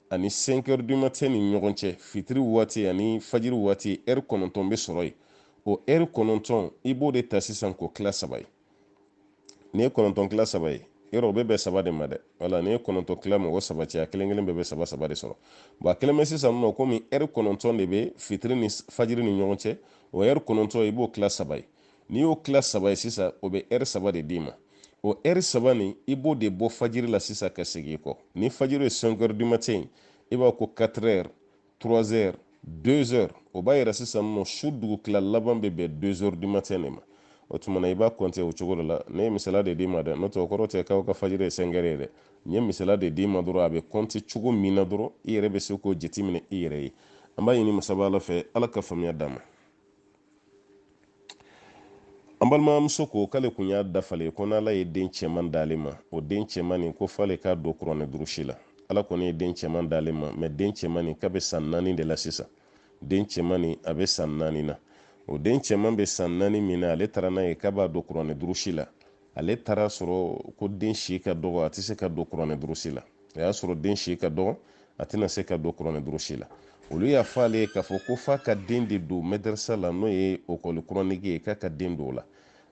ani 5 heures du matin ni ɲɔgɔn cɛ fitiri waati ani fajiri waati ɛri kɔnɔntɔn bɛ sɔrɔ yen o ɛri kɔnɔntɔn i b'o de ta sisan k'o tila saba ye n'i ye kɔnɔntɔn tila saba ye yɔrɔ o bɛ bɛn saba de ma dɛ wala n'i ye kɔnɔntɔn tila mɔgɔ saba cɛ a kelen kelen bɛɛ bɛ saba saba de sɔrɔ bon a kɛlen bɛ sisan nɔ komi ɛri kɔnɔntɔn de bɛ fitiri ni fajiri ni ɲɔgɔn cɛ o ɛri kɔnɔntɔn i b'o tila saba ye n'i y'o tila saba ye sisan o bɛ ɛri saba de d'i ma o ɛri saba nin i b'o de bɔ fajiri la sisan ka segin i kɔ ni fajiri ye cinq heures du matin i b'a ko quatre heures trois heures deux heures o b'a yira sisan nɔ su dugutila laban bɛ bɛn deux heures du matin de ma o tuma na i b'a kɔnte o cogo de la ne ye misala de d'i ma dɛ n'o tɛ o kɔrɔ tɛ k'aw ka fajiri ye cinq heures ye dɛ n ye misala de d'i ma dɔrɔn a bɛ kɔnte cogo min na dɔrɔn i yɛrɛ bɛ se k'o jateminɛ i yɛrɛ ye an b'a ɲini masaba ala fɛ ala ka faamuya d'an ma an balimamuso ko k'ale kun y'a dafalen ko n'ala ye den cɛman d'ale ma o den cɛman nin ko f'ale k'a don kuranɛ durusi la ala kɔni ye den cɛman d'ale ma mais den cɛman nin k'a bɛ san naani de la sisan den cɛman nin a bɛ san naani na o den cɛman bɛ san naani min na ale taara n'a ye k'a b'a don kuranɛ durusi la ale taara a sɔrɔ ko den si ka dɔgɔ a tɛ se ka don kuranɛ durusi la a y'a sɔrɔ den si ka dɔgɔ a tɛna se ka don kuranɛ durusi la olu y'a fɔ ale ye k'a fɔ ko f'a ka den de don mɛdarisa la n'o ye école coranique ye k'a ka den don o la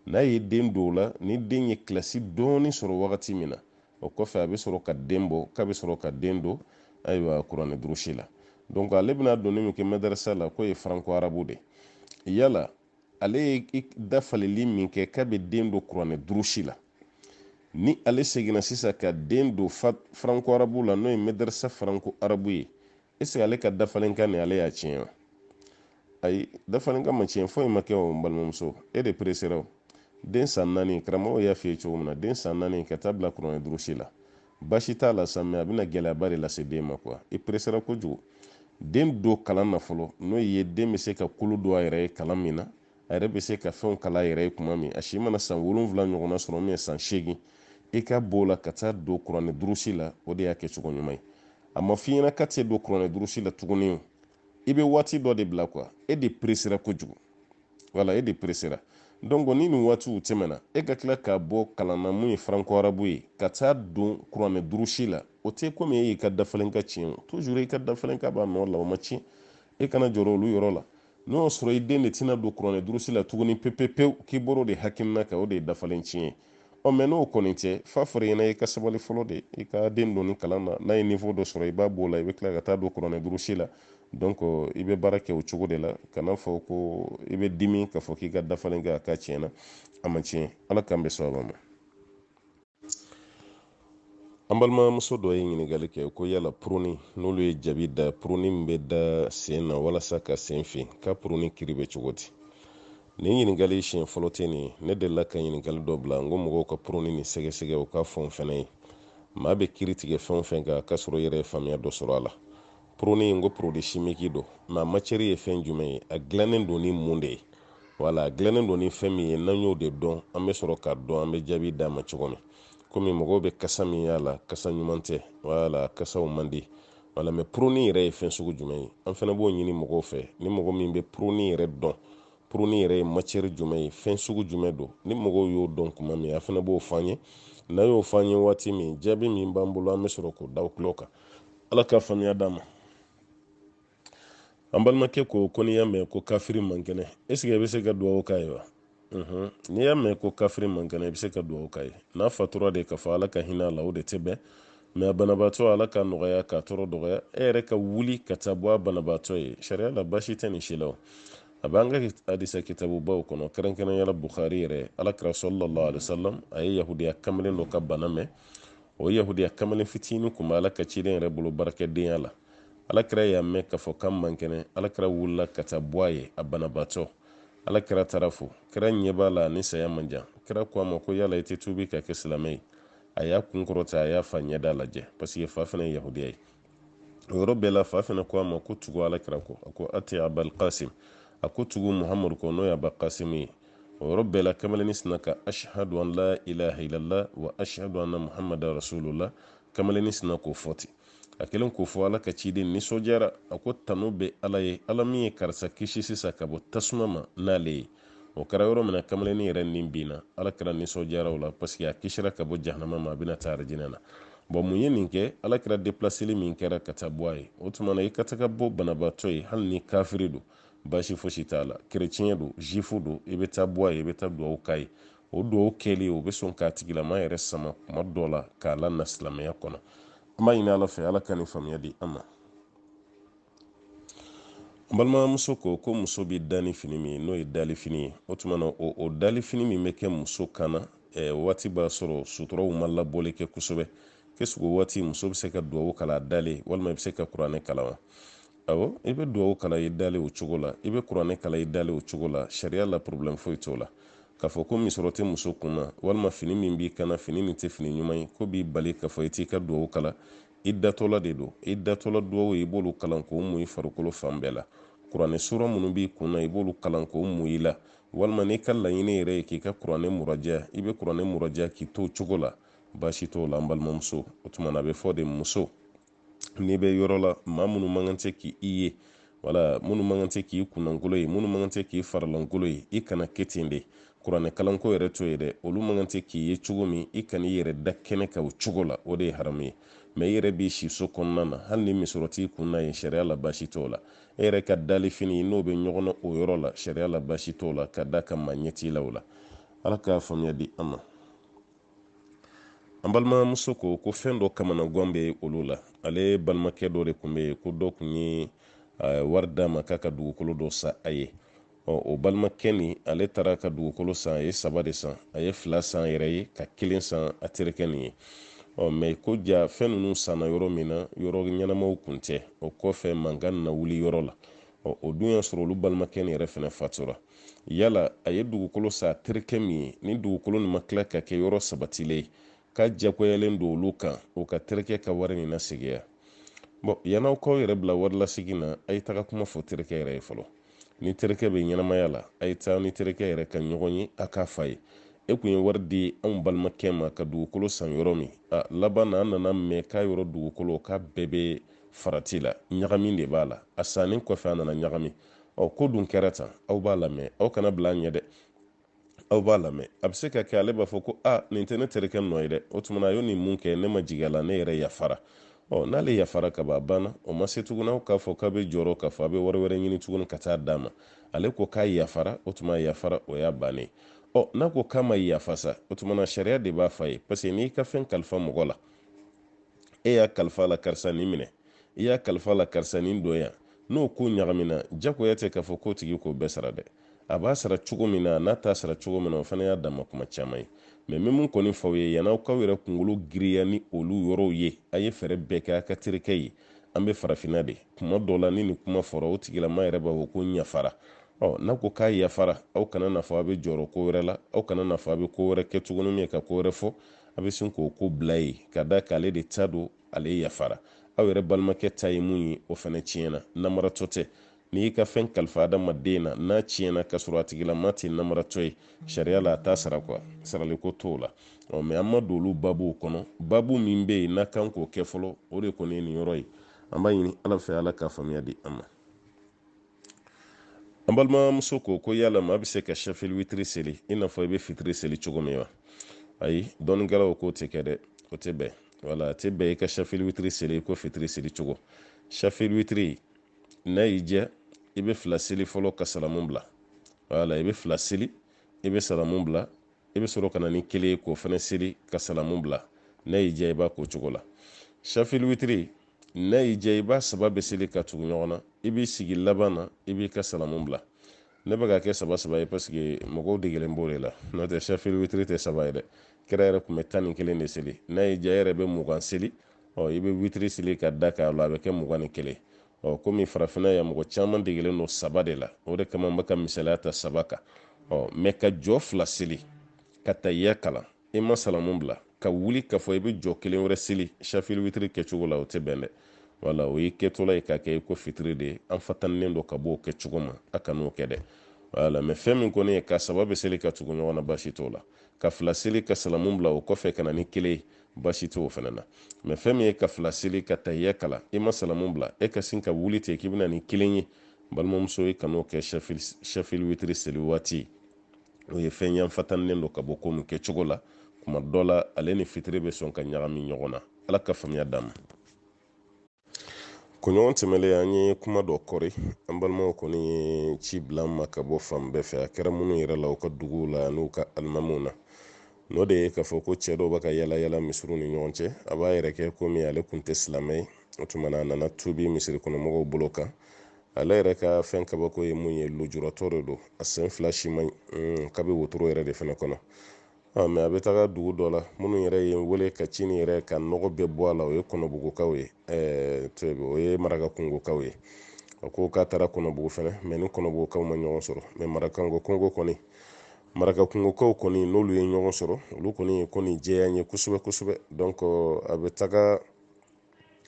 n'a ye den don o la ni den ye kilasi dɔɔni sɔrɔ wagati min na o kɔfɛ a bɛ sɔrɔ ka den bɔ k'a bɛ sɔrɔ ka den don ayiwa kuranɛ durusi la donc ale bɛna donni min kɛ mɛdarasa la k'o ye franco arabe de yala ale ye dafaleli min kɛ k'a bɛ den don kuranɛ durusi la ni ale seginna sisan ka den don franco arabe la n'o ye mɛdarisa franco arabe ye est-ce que ale ka dafalenkan nin ale y'a tiɲɛ wa ayi dafalenkan ma tiɲɛ foyi ma kɛ o n balimamuso e de peresera o den san naani karamɔgɔw y'a f'i ye cogo min na den san naani ka taa bila kuranɛ durusi la basi t'a la sa mɛ a bɛna gɛlɛyaba de lase den ma kuwa i peresera kojugu den don kalan na fɔlɔ n'o ye den bɛ se ka kolo don a yɛrɛ ye kalan min na a yɛrɛ bɛ se ka fɛnw kalan a yɛrɛ ye tuma min a si mana san wolonwula ɲɔgɔnna sɔrɔ min ye san seegin i ka b'o la ka taa don kuranɛ durusi la o de y'a kɛ cogo ɲuman ye a ma f'i ɲɛna k'a tɛ don kuranɛ durusi la tuguni i bɛ waati dɔ de bila kuwa e de peresera kojugu wala e de peresera donc ni nin waatiw tɛmɛna e ka tila k'a bɔ kalan na mun ye franco arabu ye ka taa don kuranɛ durusi la o tɛ komi e y'i ka dafalenkan tiɲɛ toujours i ka dafalenkan b'a nɔ la o ma tiɲɛ e kana jɔrɔ olu yɔrɔ la n'o y'a sɔrɔ i den de tɛna don kuranɛ durusi la tuguni pepepewu k'i bɔr'o de hakilina kan o de ye dafalen tiɲɛ ye ɔ mɛ n'o kɔni tɛ f'a fɔr'i ɲɛna i ka sabali fɔlɔ de i ka den don nin kalan na n'a ye niveau dɔ sɔrɔ i b'a b'o la i bɛ tila ka taa don kuranɛ durusi la donc i bɛ baara kɛ o cogo de la kana fɔ ko i bɛ dimi k'a fɔ k'i ka dafalen kɛ a kan tiɲɛna a ma tiɲɛ ala k'an bɛn sawaba ma an balimamuso dɔ ye ɲininkali kɛ ko yala puruni n'olu ye jabi da puruni min bɛ da sen na walasa ka sen fin ko puruni kiri bɛ cogo di nin ɲininkali siɲɛ fɔlɔ tɛ nin ne delila ka ɲininkali dɔ bila n ko mɔgɔw ka puruni nin sɛgɛsɛgɛ u k'a fɔ n fɛnɛ ye maa bɛ kiri tigɛ fɛn o fɛn kan k'a sɔrɔ i yɛrɛ ye faamuya dɔ sɔrɔ a la puruni n ko porodi simiki don mɛ a macɛri ye fɛn jumɛn ye a dilannen don ni mun de ye wala a dilannen don ni fɛn min ye n'an y'o de dɔn an bɛ sɔrɔ k'a dɔn an bɛ jaabi d'a ma cogo min komi mɔgɔw bɛ kasa min y'a la kasa ɲuman tɛ wala kasa man di wala mɛ puruni yɛrɛ ye fɛn sugu jumɛn ye an fana b'o ɲini mɔgɔw fɛ ni mɔgɔ min bɛ puruni yɛrɛ dɔn puruni yɛrɛ ye macɛri jumɛn ye fɛn sugu jumɛn don ni mɔgɔ y'o dɔn kuma min a fana b'o fɔ an ye n'a y'o fɔ an ye waati min jaabi min b'an bolo an bɛ sɔrɔ k'o d'aw tulo kan ala ka faamuya d'an ma an balimakɛ ko ko n'i y'a mɛn ko kafiri man kɛnɛ esike i bɛ se ka dugawu k'a ye wa mhm. n'i y'a mɛn ko kafiri man kɛnɛ i bɛ se ka dugawu k'a ye n'a fatura de k'a fɔ ala ka hinɛ a la o de tɛ bɛn mɛ a banabaatɔ ala ka nɔgɔya k'a tɔɔrɔ dɔgɔya e yɛrɛ ka wuli ka taa bɔ a banabaatɔ ye sariya la basi tɛ nin si la a b'an ka hadisa kitabubaw kɔnɔ kɛrɛnkɛrɛnya la bukhari yɛrɛ ala kira sallallahu alaihi wasallam a ye yahudiya kamalen dɔ ka bana mɛn o yahudiya kamalen fitinin kun bɛ ala ka ciden yɛrɛ bolo baarakɛdenya la alakira y'a mɛn k'a fɔ k'a man kɛnɛ alakira wulila ka taa bɔ a ye a banabaatɔ alakira taara fo kira ɲɛ b'a la nin saya man jan kira ko a ma ko yala i tɛ tuubi ka kɛ silamɛ ye a y'a kun kɔrɔta a y'a fa ɲɛda lajɛ paseke fa fana ye yahudiya ye o yɔrɔ bɛɛ la fa fana ko a ma ko tugu alakira kɔ a ko ati abal kasim a ko tugu muhamadu kɔ n'o ye aba kasimu ye o yɔrɔ bɛɛ la kamalennin sinna ka ashhadu an la ilaha illallah wa ashhadu anna muhammadan rasulullah kamalennin sinna k'o fɔ ten a kelen k'o fɔ ala ka ciden nisɔndiyara a ko tanu bɛ ala ye ala min ye karisa kisi sisan ka bɔ tasuma ma n'ale ye o kɛra yɔrɔ min na kamalennin yɛrɛ nin binna ala kira nisɔndiyara o la parce que a kisira ka bɔ jahanama ma a bɛna taa arijinɛ na bɔn mun ye nin kɛ ala kira depilaseli min kɛra ka taa bɔ a ye o tuma na i ka taga bɔ banabaatɔ ye hali ni kafiri don baasi fosi t'a la kereciyɛn don zifu don i bɛ taa bɔ a ye i bɛ taa duwawu k'a ye o dugawu kɛli o bɛ sɔn k'a tigilama yɛrɛ sama kuma dɔ la k'a lana silamɛya kɔnɔ an b'a ɲini ala fɛ ala ka nin faamuya di an ma n balimamuso ko ko muso bɛ da ni fini min ye n'o ye dali fini ye o tuma na o o dali fini min bɛ kɛ muso kan na eh, waati b'a sɔrɔ suturaw ma labɔli kɛ kosɛbɛ k'est-ce que o waati muso bɛ se ka dugawu kalan a dalen walima i bɛ se ka kuranɛ kalan wa Awɔ, i bɛ duwawu kalan i dalen o cogo la, i bɛ kuranɛ kalan i dalen o cogo la, sariya la porobilɛmu foyi t'o la. K'a fɔ ko misɔrɔ tɛ muso kun na, walima fini min b'i kan na, fini nin tɛ fini ɲuman ye, k'o b'i bali k'a fɔ i t'i ka duwawu kalan, i datɔla de don. I datɔla duwawu, i b'olu kalan k'o mun i farikolo fan bɛɛ la. Kuranɛ sura minnu b'i kun na, i b'olu kalan k'o mun i la. Walima n'i ka laɲini yɛrɛ ye k'i ka kuranɛ muraja, i bɛ kuranɛ muraja k'i to o cogo la, baasi t'o la an balimamuso. O tuma na a bɛ fɔ de muso, n'i bɛ yɔrɔ la maa minnu man kan tɛ k'i ye wala minnu man kan tɛ k'i kunnankolon ye minnu man kan tɛ k'i faralankolon ye i kana kɛ ten de kuranɛ kalanko yɛrɛ to yen dɛ olu man kan tɛ k'i ye cogo min i kana i yɛrɛ da kɛnɛ kan o cogo la o de ye haramu ye mɛ i yɛrɛ b'i siso kɔnɔna na hali ni misɔrɔ t'i kun na yen sariya la baasi t'o la e yɛrɛ ka dali fini n'o bɛ ɲɔgɔn na o yɔrɔ la sariya la baasi t'o la ka d'a kan maa ɲɛ t'i la o la ala k'a faamuya di an ma an balimamuso ko ko fɛn dɔ kamanagan bɛ olu la ale balimakɛ dɔ de kun bɛ yen ko dɔ kun ye wari d'a ma k'a ka dugukolo dɔ san a ye ɔ o balimakɛ nin ale taara ka dugukolo san a ye saba de san a ye fila san yɛrɛ ye ka kelen san a terikɛ nin ye ɔ mɛ ko jaa fɛn ninnu sanna yɔrɔ min na yɔrɔ ɲɛnamaw kun tɛ o kɔfɛ mankan na wuli yɔrɔ la ɔ o dun y'a sɔrɔ olu balimakɛ nin yɛrɛ fɛnɛ fatura yala a ye dugukolo san terikɛ min ye ni dugukolo nin ma tila ka kɛ yɔrɔ sabatilen ye k'a jagoyalen don olu kan o ka terikɛ ka wari nin lasegin wa bɔn yan'aw k'aw yɛrɛ bila wari lasegin na a ye taga kuma fɔ terikɛ yɛrɛ ye fɔlɔ ni terikɛ bɛ ɲɛnamaya la a ye taa ni terikɛ yɛrɛ ka ɲɔgɔn ye a k'a f'a ye e kun ye wari di anw balimakɛ ma ka dugukolo san yɔrɔ min a laban na an nana mɛn k'a yɔrɔ dugukolo k'a bɛɛ bɛ farati la ɲagami de b'a la a sannen kɔfɛ a nana ɲagami ɔ ko dun kɛra tan aw b'a lamɛn aw kana bila a ɲɛ dɛ aw b'a lamɛn a bɛ se ka kɛ ale b'a fɔ ko a nin tɛ ne terikɛ nɔ ye dɛ o tuma na a y'o nin mun kɛ ne ma jigin a la ne yɛrɛ yafara ɔ n'ale yafara ka ban a banna o ma se tuguni aw k'a fɔ k'a bɛ jɔrɔ k'a fɔ a bɛ wari wɛrɛ ɲini tuguni ka taa d'a ma ale ko k'a yafara o tuma yafara o y'a bannen ɔ n'a ko k'a ma yafa sa o tuma na sariya de b'a f'a ye parce que n'i ka fɛn kalifa mɔgɔ la e y'a kalifa la karisa nin minɛ i y'a kalifa la karisa nin don yan n'o ko ɲagamina jagoya tɛ k'a fɔ k'o tigi k'o bɛɛ sara dɛ a b'a sara cogo min na n'a t'a sara cogo min na o fana y'a dama kuma caman ye mɛ n bɛ min kɔni f'aw ye yann'aw k'aw yɛrɛ kunkolo giriya ni olu yɔrɔw ye a ye fɛɛrɛ bɛɛ kɛ a ka terikɛ ye an bɛ farafinna de kuma dɔ la ni nin kuma fɔra o tigilama yɛrɛ b'a fɔ ko n yafara ɔ n'a ko k'a yafara aw kana n'a fɔ a bɛ jɔrɔ ko wɛrɛ la aw kana n'a fɔ a bɛ ko wɛrɛ kɛ tuguni min ye ka ko wɛrɛ fɔ a bɛ sin k'o ko bila yen ka da k'ale de ta don ale yafara aw yɛrɛ balimakɛ ta ye min ye o fana tiɲɛna namaratɔ tɛ n'i y'i ka fɛn kalifa adamaden na n'a tiɲɛna k'a sɔrɔ a tigilama tɛ namaratɔ ye sariya la a t'a sara quoi saraliko t'o la ɔ mɛ an ma don olu babuw kɔnɔ babu min bɛ yen n'a kan k'o kɛ fɔlɔ o de kɔni ye nin yɔrɔ ye an b'a ɲini ala fɛ ala ka faamuya di an ma an balimamuso ko ko yala maa bɛ se ka safili witiri seli i n'a fɔ i bɛ fitiri seli cogo min wa ayi dɔnnikɛlaw k'o tɛ kɛ dɛ o tɛ bɛn wala a tɛ bɛn i ka safili witiri seli ko fitiri seli cogo safili witiri n'a y'i diya i bɛ fila seli fɔlɔ ka salamu bila wala i bɛ fila seli i bɛ salamu bila i bɛ sɔrɔ ka na ni kelen ye k'o fana seli ka salamu bila n'a y'i diya i b'a k'o cogo la safili witiri n'a y'i diya i b'a saba bɛɛ seli ka tugu ɲɔgɔn na i b'i sigi laban na i b'i ka salamu bila ne bɛ k'a kɛ saba saba ye parce que mɔgɔw degelen b'o de la n'o tɛ safili witiri tɛ saba ye dɛ kira yɛrɛ tun bɛ tan ni kelen de seli n'a y'i diya i yɛrɛ bɛ mugan seli ɔ i bɛ witiri seli ka da k'a la a bɛ kɛ mugan ni kelen ɔ komi farafinna yan mɔgɔ caman degelen don saba de la o de kama n bɛ ka misaliya ta saba kan ɔ mɛ ka jɔ fila seli ka tahiya kalan i ma salamu bila ka wuli k'a fɔ i bɛ jɔ kelen wɛrɛ seli safili witiri kɛcogo la o tɛ bɛn dɛ wala o y'i kɛtɔla ye k'a kɛ i ko fitiri de ye an fatanilen don ka bɔ o kɛcogo ma a kan'o kɛ dɛ wala mɛ fɛn min kɔni ye ka saba bɛɛ seli ka tugu ɲɔgɔn na baasi t'o la ka fila seli ka salamu bila o kɔfɛ ka na ni kelen ye baasi t'o fana na mɛ fɛn min ye ka fila seli ka tahiya kalan i ma salamu bila e ka sin ka wuli ten k'i bɛna ni kelen ye balimamuso i kan'o kɛ safili witiri seli waati o ye fɛn y'an fatanilen don ka bɔ ko min kɛcogo la kuma dɔ la ale ni fitiri bɛ sɔn ka ɲagami ɲɔgɔn na ala ka faamuya d'an ma kunɲɔgɔn tɛmɛlen an ye kuma dɔ kɔri an balimaw kɔni ye ci bila an ma ka bɔ fan bɛɛ fɛ a kɛra minnu yɛrɛ la u ka duguw la n'u ka alimamiw na n'o de ye k'a fɔ ko cɛ dɔw bɛ ka yala yala misiriw ni ɲɔgɔn cɛ a b'a yɛrɛ kɛ komi ale tun tɛ silamɛ ye o tuma na a nana tubi misiri kɔnɔmɔgɔw bolo kan ale yɛrɛ ka fɛn kabako ye mun ye lujuratɔ de don a sen fila si man ɲi k'a bɛ wotoro yɛrɛ de fana kɔnɔ mais a bɛ taga dugu dɔ la minnu yɛrɛ ye wele ka cini yɛrɛ ka nɔgɔ bɛɛ bɔ a la o ye kɔnɔbugukaw ye o ye marakakungokaw ye a ko k'a taara kɔnɔbugu fana mais ni kɔnɔbugukaw ma ɲɔgɔn sɔrɔ mais marakanko kungo kɔni marakakungokaw kɔni n'olu ye ɲɔgɔn sɔrɔ olu kɔni ye ko nin jɛya n ye kosɛbɛ kosɛbɛ donc a bɛ taga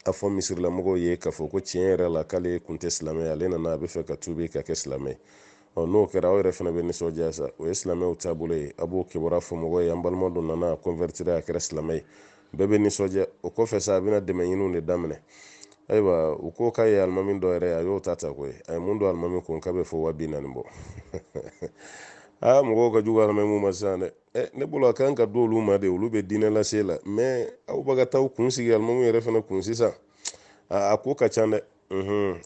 a fɔ misirilamɔgɔw ye k'a fɔ ko tiɲɛ yɛrɛ la k'ale kun tɛ silamɛ ye ale nana a bɛ fɛ ka tuubi ka kɛ silamɛ ye ɔ n'o kɛra aw yɛrɛ fana bɛ nisɔndiya sa o ye silamɛw taabolo ye a b'o kibaruya fɔ mɔgɔw ye an balima dɔ nana a kɔnvɛritira a kɛra silamɛ ye bɛɛ bɛ nisɔndiya o kɔfɛ sa a bɛna dɛmɛ ɲiniw de daminɛ ayiwa u ko k'a ye alimami dɔ yɛrɛ a y'o ta ta koyi a ye mun don alimami kun k'a bɛ fo waa bi naani bɔ aa mɔgɔw ka jugu alimamiw ma sisan dɛ Eh, ne bolo a kan ka d'olu ma de olu bɛ diinɛ lase la mais aw bɛ ka taa kun sigi alimamiw yɛrɛ fana kun sisan a ko ka ca dɛ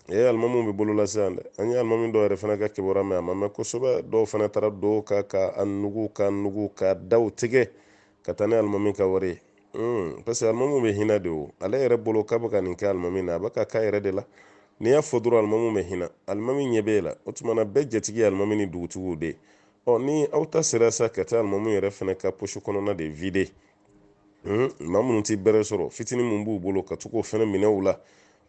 e alimamiw bɛ bolo la sisan dɛ an ye alimami dɔw yɛrɛ fana ka kibaruya mɛn a ma mɛn kosɛbɛ dɔw fana taara dɔw ka ka a nugu ka nugu ka daw tigɛ ka taa ni alimami ka wari ye hmm, parce que alimamiw bɛ hinɛ de o ale yɛrɛ bolo k'a bɛ ka nin kɛ alimami na a bɛ k'a k'a yɛrɛ de la n'i y'a fɔ dɔrɔn alimami bɛ hinɛ alimami ɲɛ b'e la o tuma na bɛɛ jatigi ye alimami ni dugutigiw de ye ɔ ni aw ta sera sa ka taa alimami yɛrɛ fana ka posi kɔnɔna de vide hmm, maa minnu tɛ bɛrɛ sɔrɔ fitinin min b'u bolo ka to k'o fana minɛ u la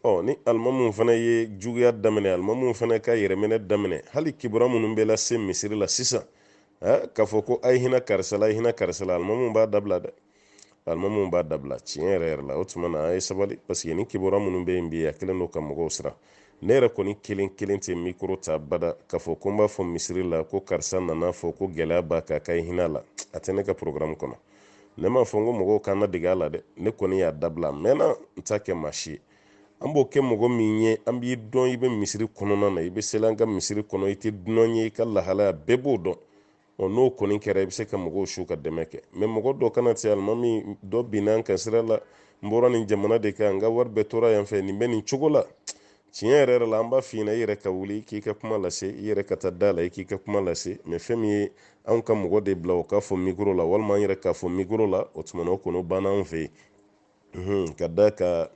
ɔ ni alimamiw fana ye juguya daminɛ alimamiw fana ka yɛrɛminɛ daminɛ hali kibaruya minnu bɛ lase misiri la sisan k'a fɔ ko a ye hinɛ karisa la a ye hinɛ karisa la alimamiw b'a dabila dɛ alimamiw b'a dabila tiɲɛ yɛrɛ yɛrɛ la o tuma na a ye sabali parce que nin kibaruya minnu bɛ yen bi a kɛlen don ka mɔgɔw siran ne yɛrɛ kɔni kelen kelen tɛ mikoro ta bada k'a fɔ ko n b'a fɔ misiri la ko karisa nana fɔ ko gɛlɛya b'a kan k'a ye hinɛ a la a tɛ ne ka porogaramu kɔnɔ ne m'a fɔ n ko mɔgɔw kana dege a la dɛ ne kɔni y'a dabila a mɛnna n t'a kɛ maa si ye an b'o kɛ mɔgɔ min ye an b'i dɔn i bɛ misiri kɔnɔna na i bɛ seli an ka misiri kɔnɔ i tɛ dunan ye i ka lahalaya bɛɛ b'o dɔn ɔ n'o kɔni kɛra i bɛ se ka mɔgɔw su ka dɛmɛ kɛ mais mɔgɔ dɔ kana se alimami dɔ binna an kan sira la n bɔra nin jamana de kan n ka wari bɛɛ tora yan fɛ nin bɛ nin cogo la tiɲɛ yɛrɛ yɛrɛ la an b'a f'i ɲɛna i yɛrɛ ka wuli k'i ka kuma lase i yɛrɛ ka taa da la i k'i ka kuma lase mais fɛn min ye anw ka mɔgɔ de bila o k'a fɔ mikoro la walima an yɛrɛ k'a fɔ mikoro la o tuma na o kɔni o banna anw fɛ yen ka d'a kan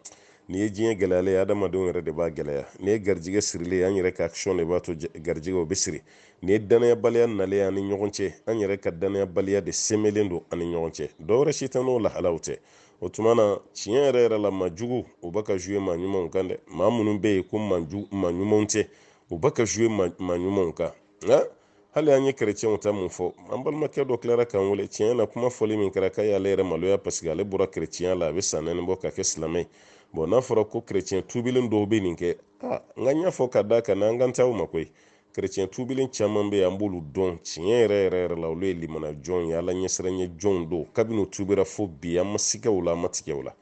n'i ye diɲɛ gɛlɛyalen ye adamadenw yɛrɛ de b'a gɛlɛya n'i ye garijigɛ sirilen an yɛrɛ ka action de b'a to garijigɛ o bɛ siri n'i ye danayabaliya nalen an ni ɲɔgɔn cɛ an yɛrɛ ka danayabaliya de sɛmɛlen don an ni ɲɔgɔn cɛ dɔwɛrɛ si tɛ n'o lahalaw tɛ o tuma na tiɲɛ yɛrɛ yɛrɛ la maa juguw bɛ ka jouer maa ɲumanw kan dɛ maa minnu bɛ yen ko maa ɲumanw tɛ u bɛ ka jouer maa ɲumanw kan nka hali an ye kerecɛnw ta mun fɔ an balimakɛ dɔ tilara k'an wele tiɲɛ na kuma fɔli min kɛra k'a y'ale yɛrɛ maloya paseke ale bɔra kerecɛnya la a bɛ san naani bɔ ka kɛ silamɛ ye bɔn n'a fɔra ko kerecɛn tuubilen dɔw bɛ nin kɛ a n ka ɲɛ fɔ ka da ka na an kan taa o ma koyi kerecɛn tuubilen caman bɛ yen an b'olu dɔn tiɲɛ yɛrɛ yɛrɛ yɛrɛ la olu ye limana jɔnw ye ala ɲɛsiranɲɛ jɔnw don kabini u tuubira fo bi an ma sigɛ u la an ma tigɛ u la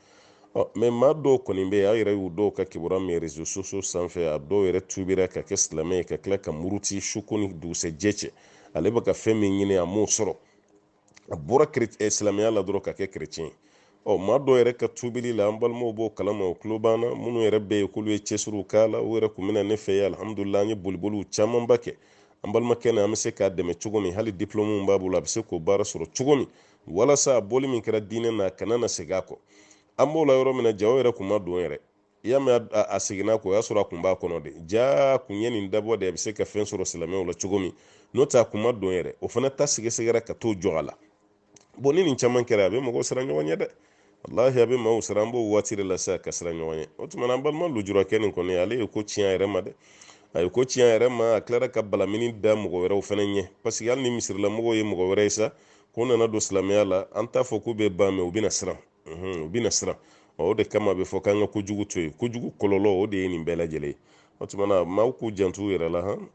ɔ mɛ maa dɔw kɔni bɛ yen aw yɛrɛ y'u dɔw ka kibaruya mɛn rezo sosiyo sanfɛ a dɔw yɛrɛ tuubira ka kɛ silamɛ ye ka tila ka muruti su ko ni dugusɛjɛ cɛ ale bɛ ka fɛn min ɲini a m'o sɔrɔ a bɔra eh, silamɛya la dɔrɔn ka kɛ kerecɛn ye maa dɔw yɛrɛ ka tuubili la an balimaw b'o kalama o tulo banna minnu yɛrɛ bɛ yen k'olu ye cɛsiriw k'a la u yɛrɛ kun bɛ na ne fɛ yen alihamudulila an ye boliboliw camanba kɛ an balimakɛ na an bɛ se k'a dɛmɛ cogo min hali diplɔmuw b'a bolo a bɛ se k'o baara sɔrɔ cogo min walasa a bɔli min kɛra diinɛ na a kana na segin a kɔ an b'o la yɔrɔ min na jaa o yɛrɛ kun ma don yɛrɛ i y'a mɛn a seginna kɔ o y'a sɔrɔ a kun b'a kɔnɔ de jaa a kun ye nin dabɔ de a bɛ se ka fɛn sɔrɔ silamɛw la cogo min n'o tɛ a kun ma don yɛrɛ o fana ta sɛgɛsɛgɛra ka t'o jɔ a la bɔn ni nin caman kɛra a bɛ mɔgɔw siran ɲɔgɔn ɲɛ dɛ walahi a bɛ maaw siran an b'o waati de la sa ka siran ɲɔgɔn ɲɛ o tuma na an balima lujurakɛ nin kɔni ale ye ko tiɲɛ a yɛrɛ ma dɛ a ye ko tiɲɛ a yɛrɛ ma a tilara ka balamini da mɔgɔ wɛrɛw fana ɲɛ parce que hali ni misirilamɔgɔw ye mɔgɔ wɛrɛ ye sa k'u nana don silamɛya la an t'a fɔ k'u bɛ ban mɛ u bɛna siran u bɛna siran o de kama a bɛ fɔ k'an ka kojugu to yen kojugu kɔlɔlɔ o de ye nin bɛɛ lajɛlen ye o tuma na maaw k'u janto u yɛrɛ la han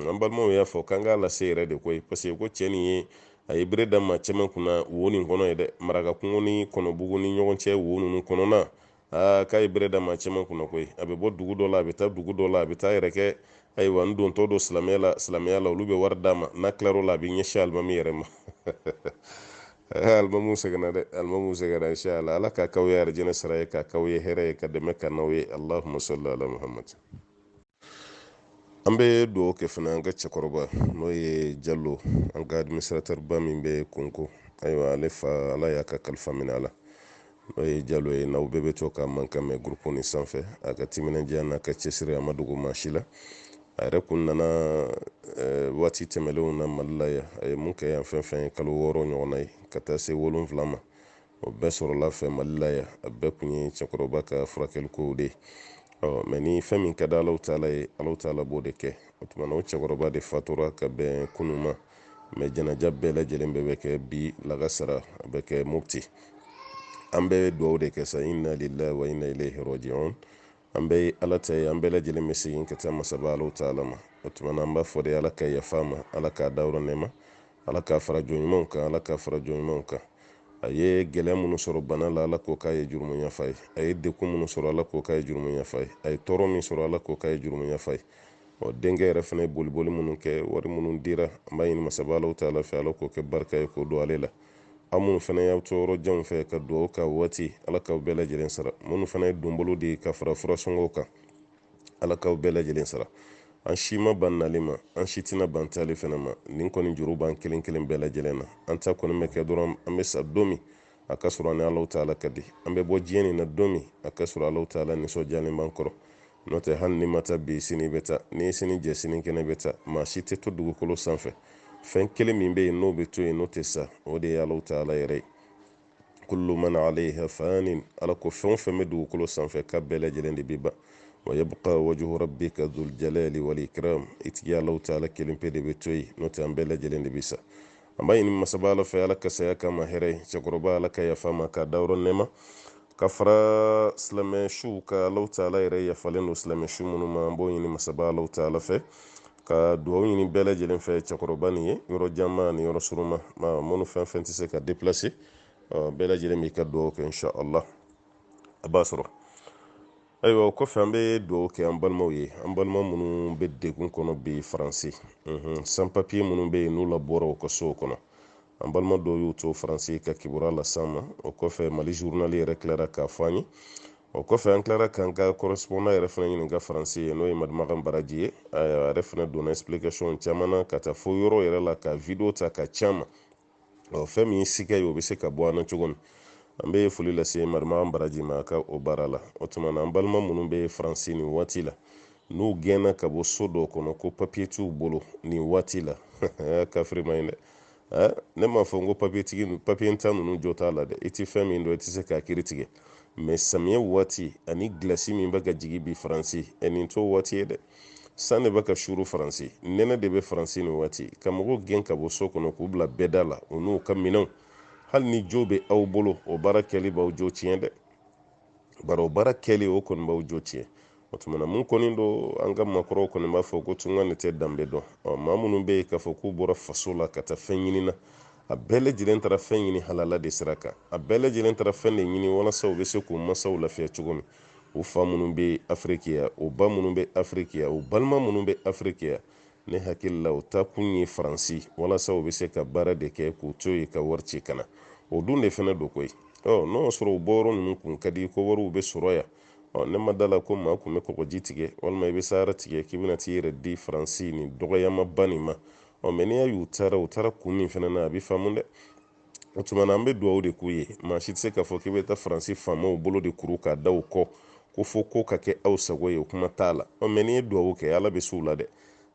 an balimaw y'a fɔ k'an k'a lase yɛrɛ de koyi parce que ko cɛ nin ye a ye bere da maa caman kunna wo nin kɔnɔ ye dɛ maraka kungo ni kɔnɔbugu ni ɲɔgɔn cɛ wo ninnu kɔnɔna aa k'a ye bere da maa caman kunna koyi a bɛ bɔ dugu dɔ la a bɛ taa dugu dɔ la a bɛ taa a yɛrɛ kɛ ayiwa n dontɔ don silamɛya la silamɛya la olu bɛ wari d'a ma n'a tilar'o la a bɛ ɲɛsin alimami yɛrɛ ma alimamu sɛgɛnna dɛ alimamu sɛgɛnna inshallah ala k'a k'aw ye arijinɛ sara ye k'a k'aw ye hɛrɛ ye ka dɛmɛ k'an n'aw ye allahumma salli ala muhammad an bɛ dugawu kɛ fana an ka cɛkɔrɔba n'o ye jalo an ka administratɛriba min bɛ kongo ayiwa ale fa ala y'a ka kalifa minɛ a la n'o ye jalo ye n'aw bɛɛ bɛ to k'a mankan mɛn gurupu nin sanfɛ a ka timinandiya n'a ka cɛsiri a ma dogo maa si la a yɛrɛ kun nana eh, waati tɛmɛlenw na mali la yan a ye mun kɛ yan fɛn fɛn ye kalo wɔɔrɔ ɲɔgɔnna ye ka taa se wolonfila ma o bɛɛ sɔrɔla a fɛ mali la yan a bɛɛ kun ye cɛkɔrɔba ka furakɛlikow de ye mɛ ni fɛn min ka di alahu taala ye alahu taala b'o de kɛ o tuma na o cɛkɔrɔba de fatura ka bɛn kunun ma mɛ janaja bɛɛ lajɛlen bɛɛ bɛ kɛ bi lagasara a bɛ kɛ mopti an bɛ dugawu de kɛ sa inna lillahi wa inna ilayhi rajiun an bɛɛ ye ala ta ye an bɛɛ lajɛlen bɛ segin ka taa masaba alahu taala ma o tuma na an b'a fɔ de ala ka yafa a ma ala k'a dayɔrɔ nɛɛma ala k'a fara jɔn ɲumanw kan ala k'a fara jɔn ɲumanw kan a ye gɛlɛya minnu sɔrɔ bana la ala k'o k'a ye jurumu yafa ye a ye degun minnu sɔrɔ ala k'o k'a ye jurumu yafa ye a ye tɔɔrɔ min sɔrɔ ala k'o k'a ye jurumu yafa ye ɔ denkɛ yɛrɛ fana ye boliboli minnu kɛ wari minnu dira an b'a ɲini masaba alahu taala fɛ ala k'o kɛ barika ye k'o don ale la aw minnu fana y'aw to yɔrɔ janw fɛ ka dugawu ka waati ala k'aw bɛɛ lajɛlen sara minnu fana ye donbolo di ka fara furasɔngɔw kan ala k'aw bɛɛ lajɛlen sara an si ma ban nali ma an si tɛna ban taali fana ma nin kɔni juru b'an kelen kelen bɛɛ lajɛlen na an ta kɔni bɛ kɛ dɔrɔn an bɛ sa don min a k'a sɔrɔ an ni alahu taala ka di an bɛ bɔ diɲɛ nin na don min a k'a sɔrɔ alahu taala nisɔndiyalen b'an kɔrɔ n'o tɛ hali n'i ma taa bi sini bɛ taa ni sini jɛ sinikɛnɛ bɛ taa maa si tɛ to dugukolo sanfɛ fɛn kelen min bɛ yen n'o bɛ to yen n'o tɛ sa o de ye alahu taala yɛrɛ ye kullu man alayha fanin ala ko fɛn o fɛn bɛ dugukolo sanfɛ k'a bɛɛ lajɛlen de bɛ ban wa yabqa wajhu rabbika dhul jalali wal ikram i tigi alahu taala kelen pe de bɛ to yen n'o tɛ an bɛɛ lajɛlen de bɛ sa an b'a ɲini masaba ala fɛ ala ka saya k'a ma hɛrɛ ye cɛkɔrɔba ala ka yafa a ma k'a dayɔrɔ nɛɛma k'a fara silamɛ suw kan alahu taala yɛrɛ yafalen don silamɛ su minnu ma an b'o ɲini masaba alahu taala fɛ ka dugawu ɲini bɛɛ lajɛlen fɛ cɛkɔrɔba nin ye yɔrɔ janma ni yɔrɔ surunma minnu fɛn fɛn tɛ se ka deplase bɛɛ lajɛlen b'i ka dugawu kɛ insha allah a b'a sɔrɔ ayiwa o kɔfɛ an bɛ dugawu kɛ an balimaw ye an balima minnu bɛ degun kɔnɔ bi faransi san papiye minnu bɛ yen n'u labɔra u ka sow kɔnɔ an balima dɔw y'u to faransi ka kibaruya las'an ma o kɔfɛ mali zurunali yɛrɛ tilara k'a fɔ an ye o kɔfɛ an tilara k'an ka correspondant yɛrɛ fana ɲininka faransi yen n'o ye madimakan baraji ye a yɛrɛ fana donna explication caman na ka taa fo yɔrɔ yɛrɛ la ka video ta k'a c'an ma ɔ fɛn min ye siga ye o bɛ se ka bɔ an na cogo min an bɛ foli lase madimakan baraji ma a ka o baara la o tuma na an balima minnu bɛ faransi nin waati la n'u gɛnna ka bɔ so dɔw kɔnɔ ko papiye t'u bolo nin waati la kafiri ma ɲi dɛ ɛ ne m'a fɔ n ko papiyentan ninnu jo t'a la dɛ i tɛ fɛn min dɔn i tɛ se k'a kiiri tigɛ mɛ samiyɛ waati ani gilasi min bɛ ka jigin bi faransi ɛ nin t'o waati ye dɛ san de bɛ ka suuru faransi nɛnɛ de bɛ faransi nin waati ka mɔgɔw gɛn ka bɔ so kɔnɔ k'u bila bɛɛda la u n'u ka minɛnw hali ni jo bɛ aw bolo o baara kɛli b'aw jo tiɲɛ dɛ bari o baara kɛli o kɔni b'aw jo tiɲɛ o tuma na min kɔni don an ka makɔrɔw kɔni b'a fɔ ko tunga de tɛ danbe dɔn ɔ maa minnu bɛ yen k'a fɔ k'u bɔra faso la ka taa fɛn ɲini na a bɛɛ lajɛlen taara fɛn ɲini halala de sira kan a bɛɛ lajɛlen taara fɛn de ɲini walasa u bɛ se k'u masaw lafiya cogo min u fa minnu bɛ afiriki yan u ba minnu bɛ afiriki yan u balima minnu bɛ afiriki yan ne hakili la u taa kun ye faransi walasa u bɛ se ka baara de kɛ k'u to yen ka wari ci ka na o dun de fana don koyi ɔ n'u y'a sɔrɔ u bɔyɔrɔ ninnu kun ka di ko wariw bɛ sɔrɔ yan ɔ ne ma da la ko maa kun bɛ kɔgɔji tigɛ walima i bɛ sahara tigɛ k'i bɛna t'i yɛrɛ di faransi nin dɔgɔyamaba nin ma ɔ mɛ n'i y'a y'u taara u taara kun min fana na a bɛ faamu dɛ o tuma na an bɛ dugawu de k'u ye maa si tɛ se k'a fɔ k'i bɛ taa faransi faamaw bolo de kuru k'a da u kɔ ko fo ko ka kɛ aw sago ye o kuma t'a la ɔ mɛ n'i ye dugawu kɛ ala bɛ s'u la dɛ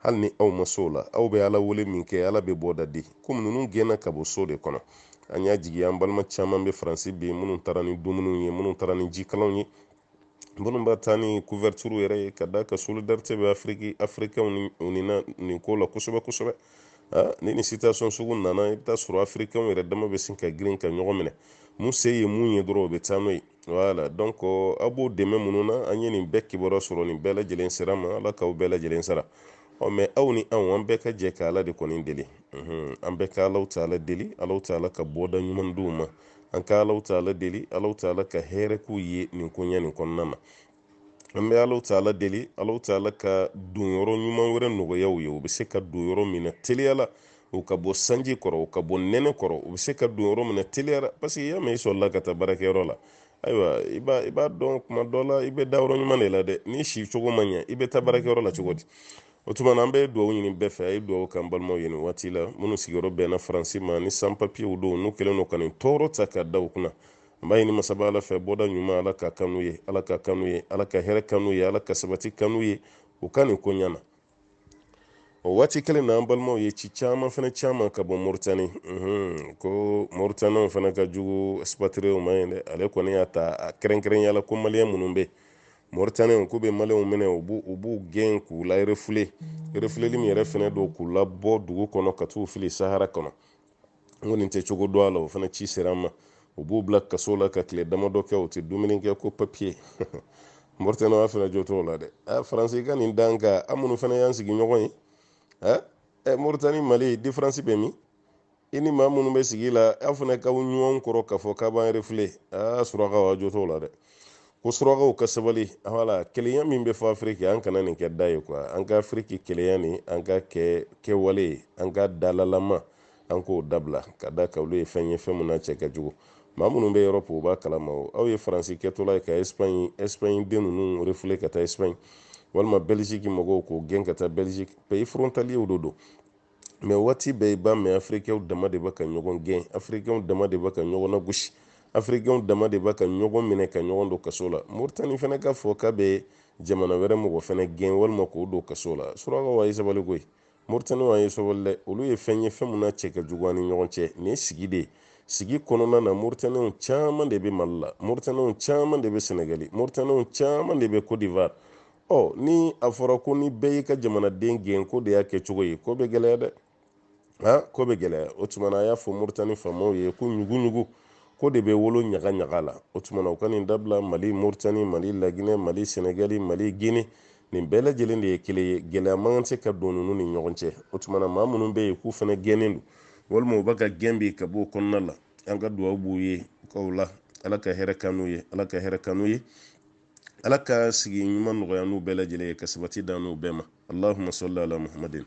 hali ni aw ma s'u la aw bɛ ala wele minkɛ ala bɛ bɔda di komi ninnu gɛnna ka bɔ so de kɔnɔ an y'a jigi an balima caman bɛ faransi bi minnu taara ni dumuniw ye minnu taara ni jikalanw ye minnu bɛ taa ni couverture yɛrɛ ye ka d'a kan solidarité bɛ afiriki afirikɛnw ni u ni na nin ko la kosɛbɛ kosɛbɛ ni nin situation sugu nana i bɛ taa sɔrɔ afirikɛnw yɛrɛ dama bɛ sin ka girin ka ɲɔgɔn minɛ mun se ye mun ye dɔrɔn o bɛ taa n'o ye voilà donc a b'o dɛmɛ minnu na an ye nin bɛɛ kibaruya sɔrɔ nin bɛɛ lajɛlen sira ma ala k'aw bɛɛ lajɛlen sara ɔ mɛ aw ni anw an bɛɛ ka jɛ ka ala de kɔni deli an bɛɛ ka alahu taala deli alahu taala ka bɔda ɲuman d'u ma an ka alahu taala deli alahu taala ka hɛrɛ k'u ye nin koɲɛ nin kɔnɔna na an bɛ alahu taala deli alahu taala ka donyɔrɔ ɲuman wɛrɛ nɔgɔya u ye u bɛ se ka don yɔrɔ min na teliya la u ka bɔ sanji kɔrɔ u ka bɔ nɛnɛ kɔrɔ u bɛ se ka don yɔrɔ min na teliya la parce que i y'a mɛn i sɔrɔla ka taa baarakɛyɔrɔ la ayiwa i b'a i b'a dɔn kuma dɔ la i bɛ da yɔrɔ ɲuman de la dɛ n'i sicogo ma ɲɛ i bɛ taa baarakɛyɔrɔ la cogo di o tuma na an bɛ dugawu ɲini bɛɛ fɛ a ye dugawu k'an balimaw ye nin waati la minnu sigiyɔrɔ bɛnna faransi ma ni san papiyew don n'u kɛlen don ka nin tɔɔrɔ ta k'a da u kunna an b'a ɲini masaba ala fɛ bɔda ɲuman ala k'a k'an n'u ye ala k'a k'an n'u ye ala ka hɛrɛ k'an n'u ye ala ka sabati k'an n'u ye u ka nin koɲɛ na o waati kelen na an balimaw ye ci caman fana c'an ma ka bɔ moritani ko moritaniw fana ka jugu expatriés ma yen dɛ ale kɔni y'a ta kɛrɛnkɛrɛnya la ko maliyɛn minnu bɛ yen moritanɛw k'u bɛ maliyɛnw minɛ u b'u u b'u gɛn k'u larefule mm. refuleli min yɛrɛ fana don k'u labɔ dugu kɔnɔ ka t'u fili sahara kɔnɔ n kɔni tɛ cogo dɔn a la o fana ci sera an ma u b'u bila kaso la ka tile damadɔ kɛ u tɛ dumuni kɛ ko papiye moritanɛw a fana jo t'o la dɛ a faransi ka nin d'an kan an minnu fana y'an sigiɲɔgɔn ye ɛ moritani mali diferansi bɛ min i ni maa minnu bɛ sigi la aw fana k'aw ɲɔgɔn kɔrɔ k'a fɔ k'a b'an refule aa surakaw aw jo t'o la dɛ ko surakaw ka sabali voilà kelenya min bɛ fɔ afiriki an kana nin kɛ da ye quoi an ka afiriki kelenya nin an k'a kɛ kɛwale ye an ka dalalama an k'o dabila ka d'a kan olu ye fɛn ye fɛn min n'a cɛ ka jugu maa minnu bɛ erɔpu u b'a kalama o aw ye faransi kɛtɔla ye ka espaɲi espaɲi den ninnu refule ka taa espaɲi walima bɛliziki mɔgɔw k'o gɛn ka taa bɛliziki payi forontaliyew do don mɛ waati bɛɛ i b'a mɛn afirikɛnw dama de bɛ ka ɲɔgɔn gɛn afirikɛnw dama de bɛ ka ɲɔgɔn lagosi afirikɛnw dama de bɛ ka ɲɔgɔn minɛ ka ɲɔgɔn don kaso la moritani fana ka fɔ k'a bɛ jamana wɛrɛ mɔgɔ fana gɛn walima k'o don kaso la surakaw a ye sabali koyi moritani a ye sabali dɛ olu ye fɛn ye fɛn min na cɛ ka jugu an ni ɲɔgɔn cɛ nin ye sigi de ye sigi kɔnɔna na moritaniw caman de bɛ mali la moritaniw caman de bɛ sɛnɛgali moritaniw caman de bɛ cote d'ivoire ɔ ni a fɔra ko ni bɛɛ y'i ka jamanaden gɛn k'o de y'a kɛcogo ye ko bɛ gɛlɛya dɛ ha ko bɛ gɛlɛya o tumana a y'a fɔ moritani faamaw ye ko ɲugu-ɲugu ko de bɛ wolo ɲaga-ɲaga la o tumana u ka nin dabila mali moritani mali laginɛ mali sɛnɛgali mali gine nin bɛɛ lajɛlen de ye kelen ye gɛlɛya man kan se ka don ninnu ni ɲɔgɔn cɛ o tumana maa minnu bɛ yen k'u fana gɛnnen don walima u bɛ ka gɛn bi ka bɔ o kɔnɔna la an ka dugawu b'u ye o ko la ala ka hɛrɛ k'an n'u ye ala ka hɛrɛ k'an n'u ye ala ka sigi ɲuman nɔgɔya an n'u bɛɛ lajɛlen ye ka sabati d'an n'u bɛɛ ma allahuma sɔli ala muhammadin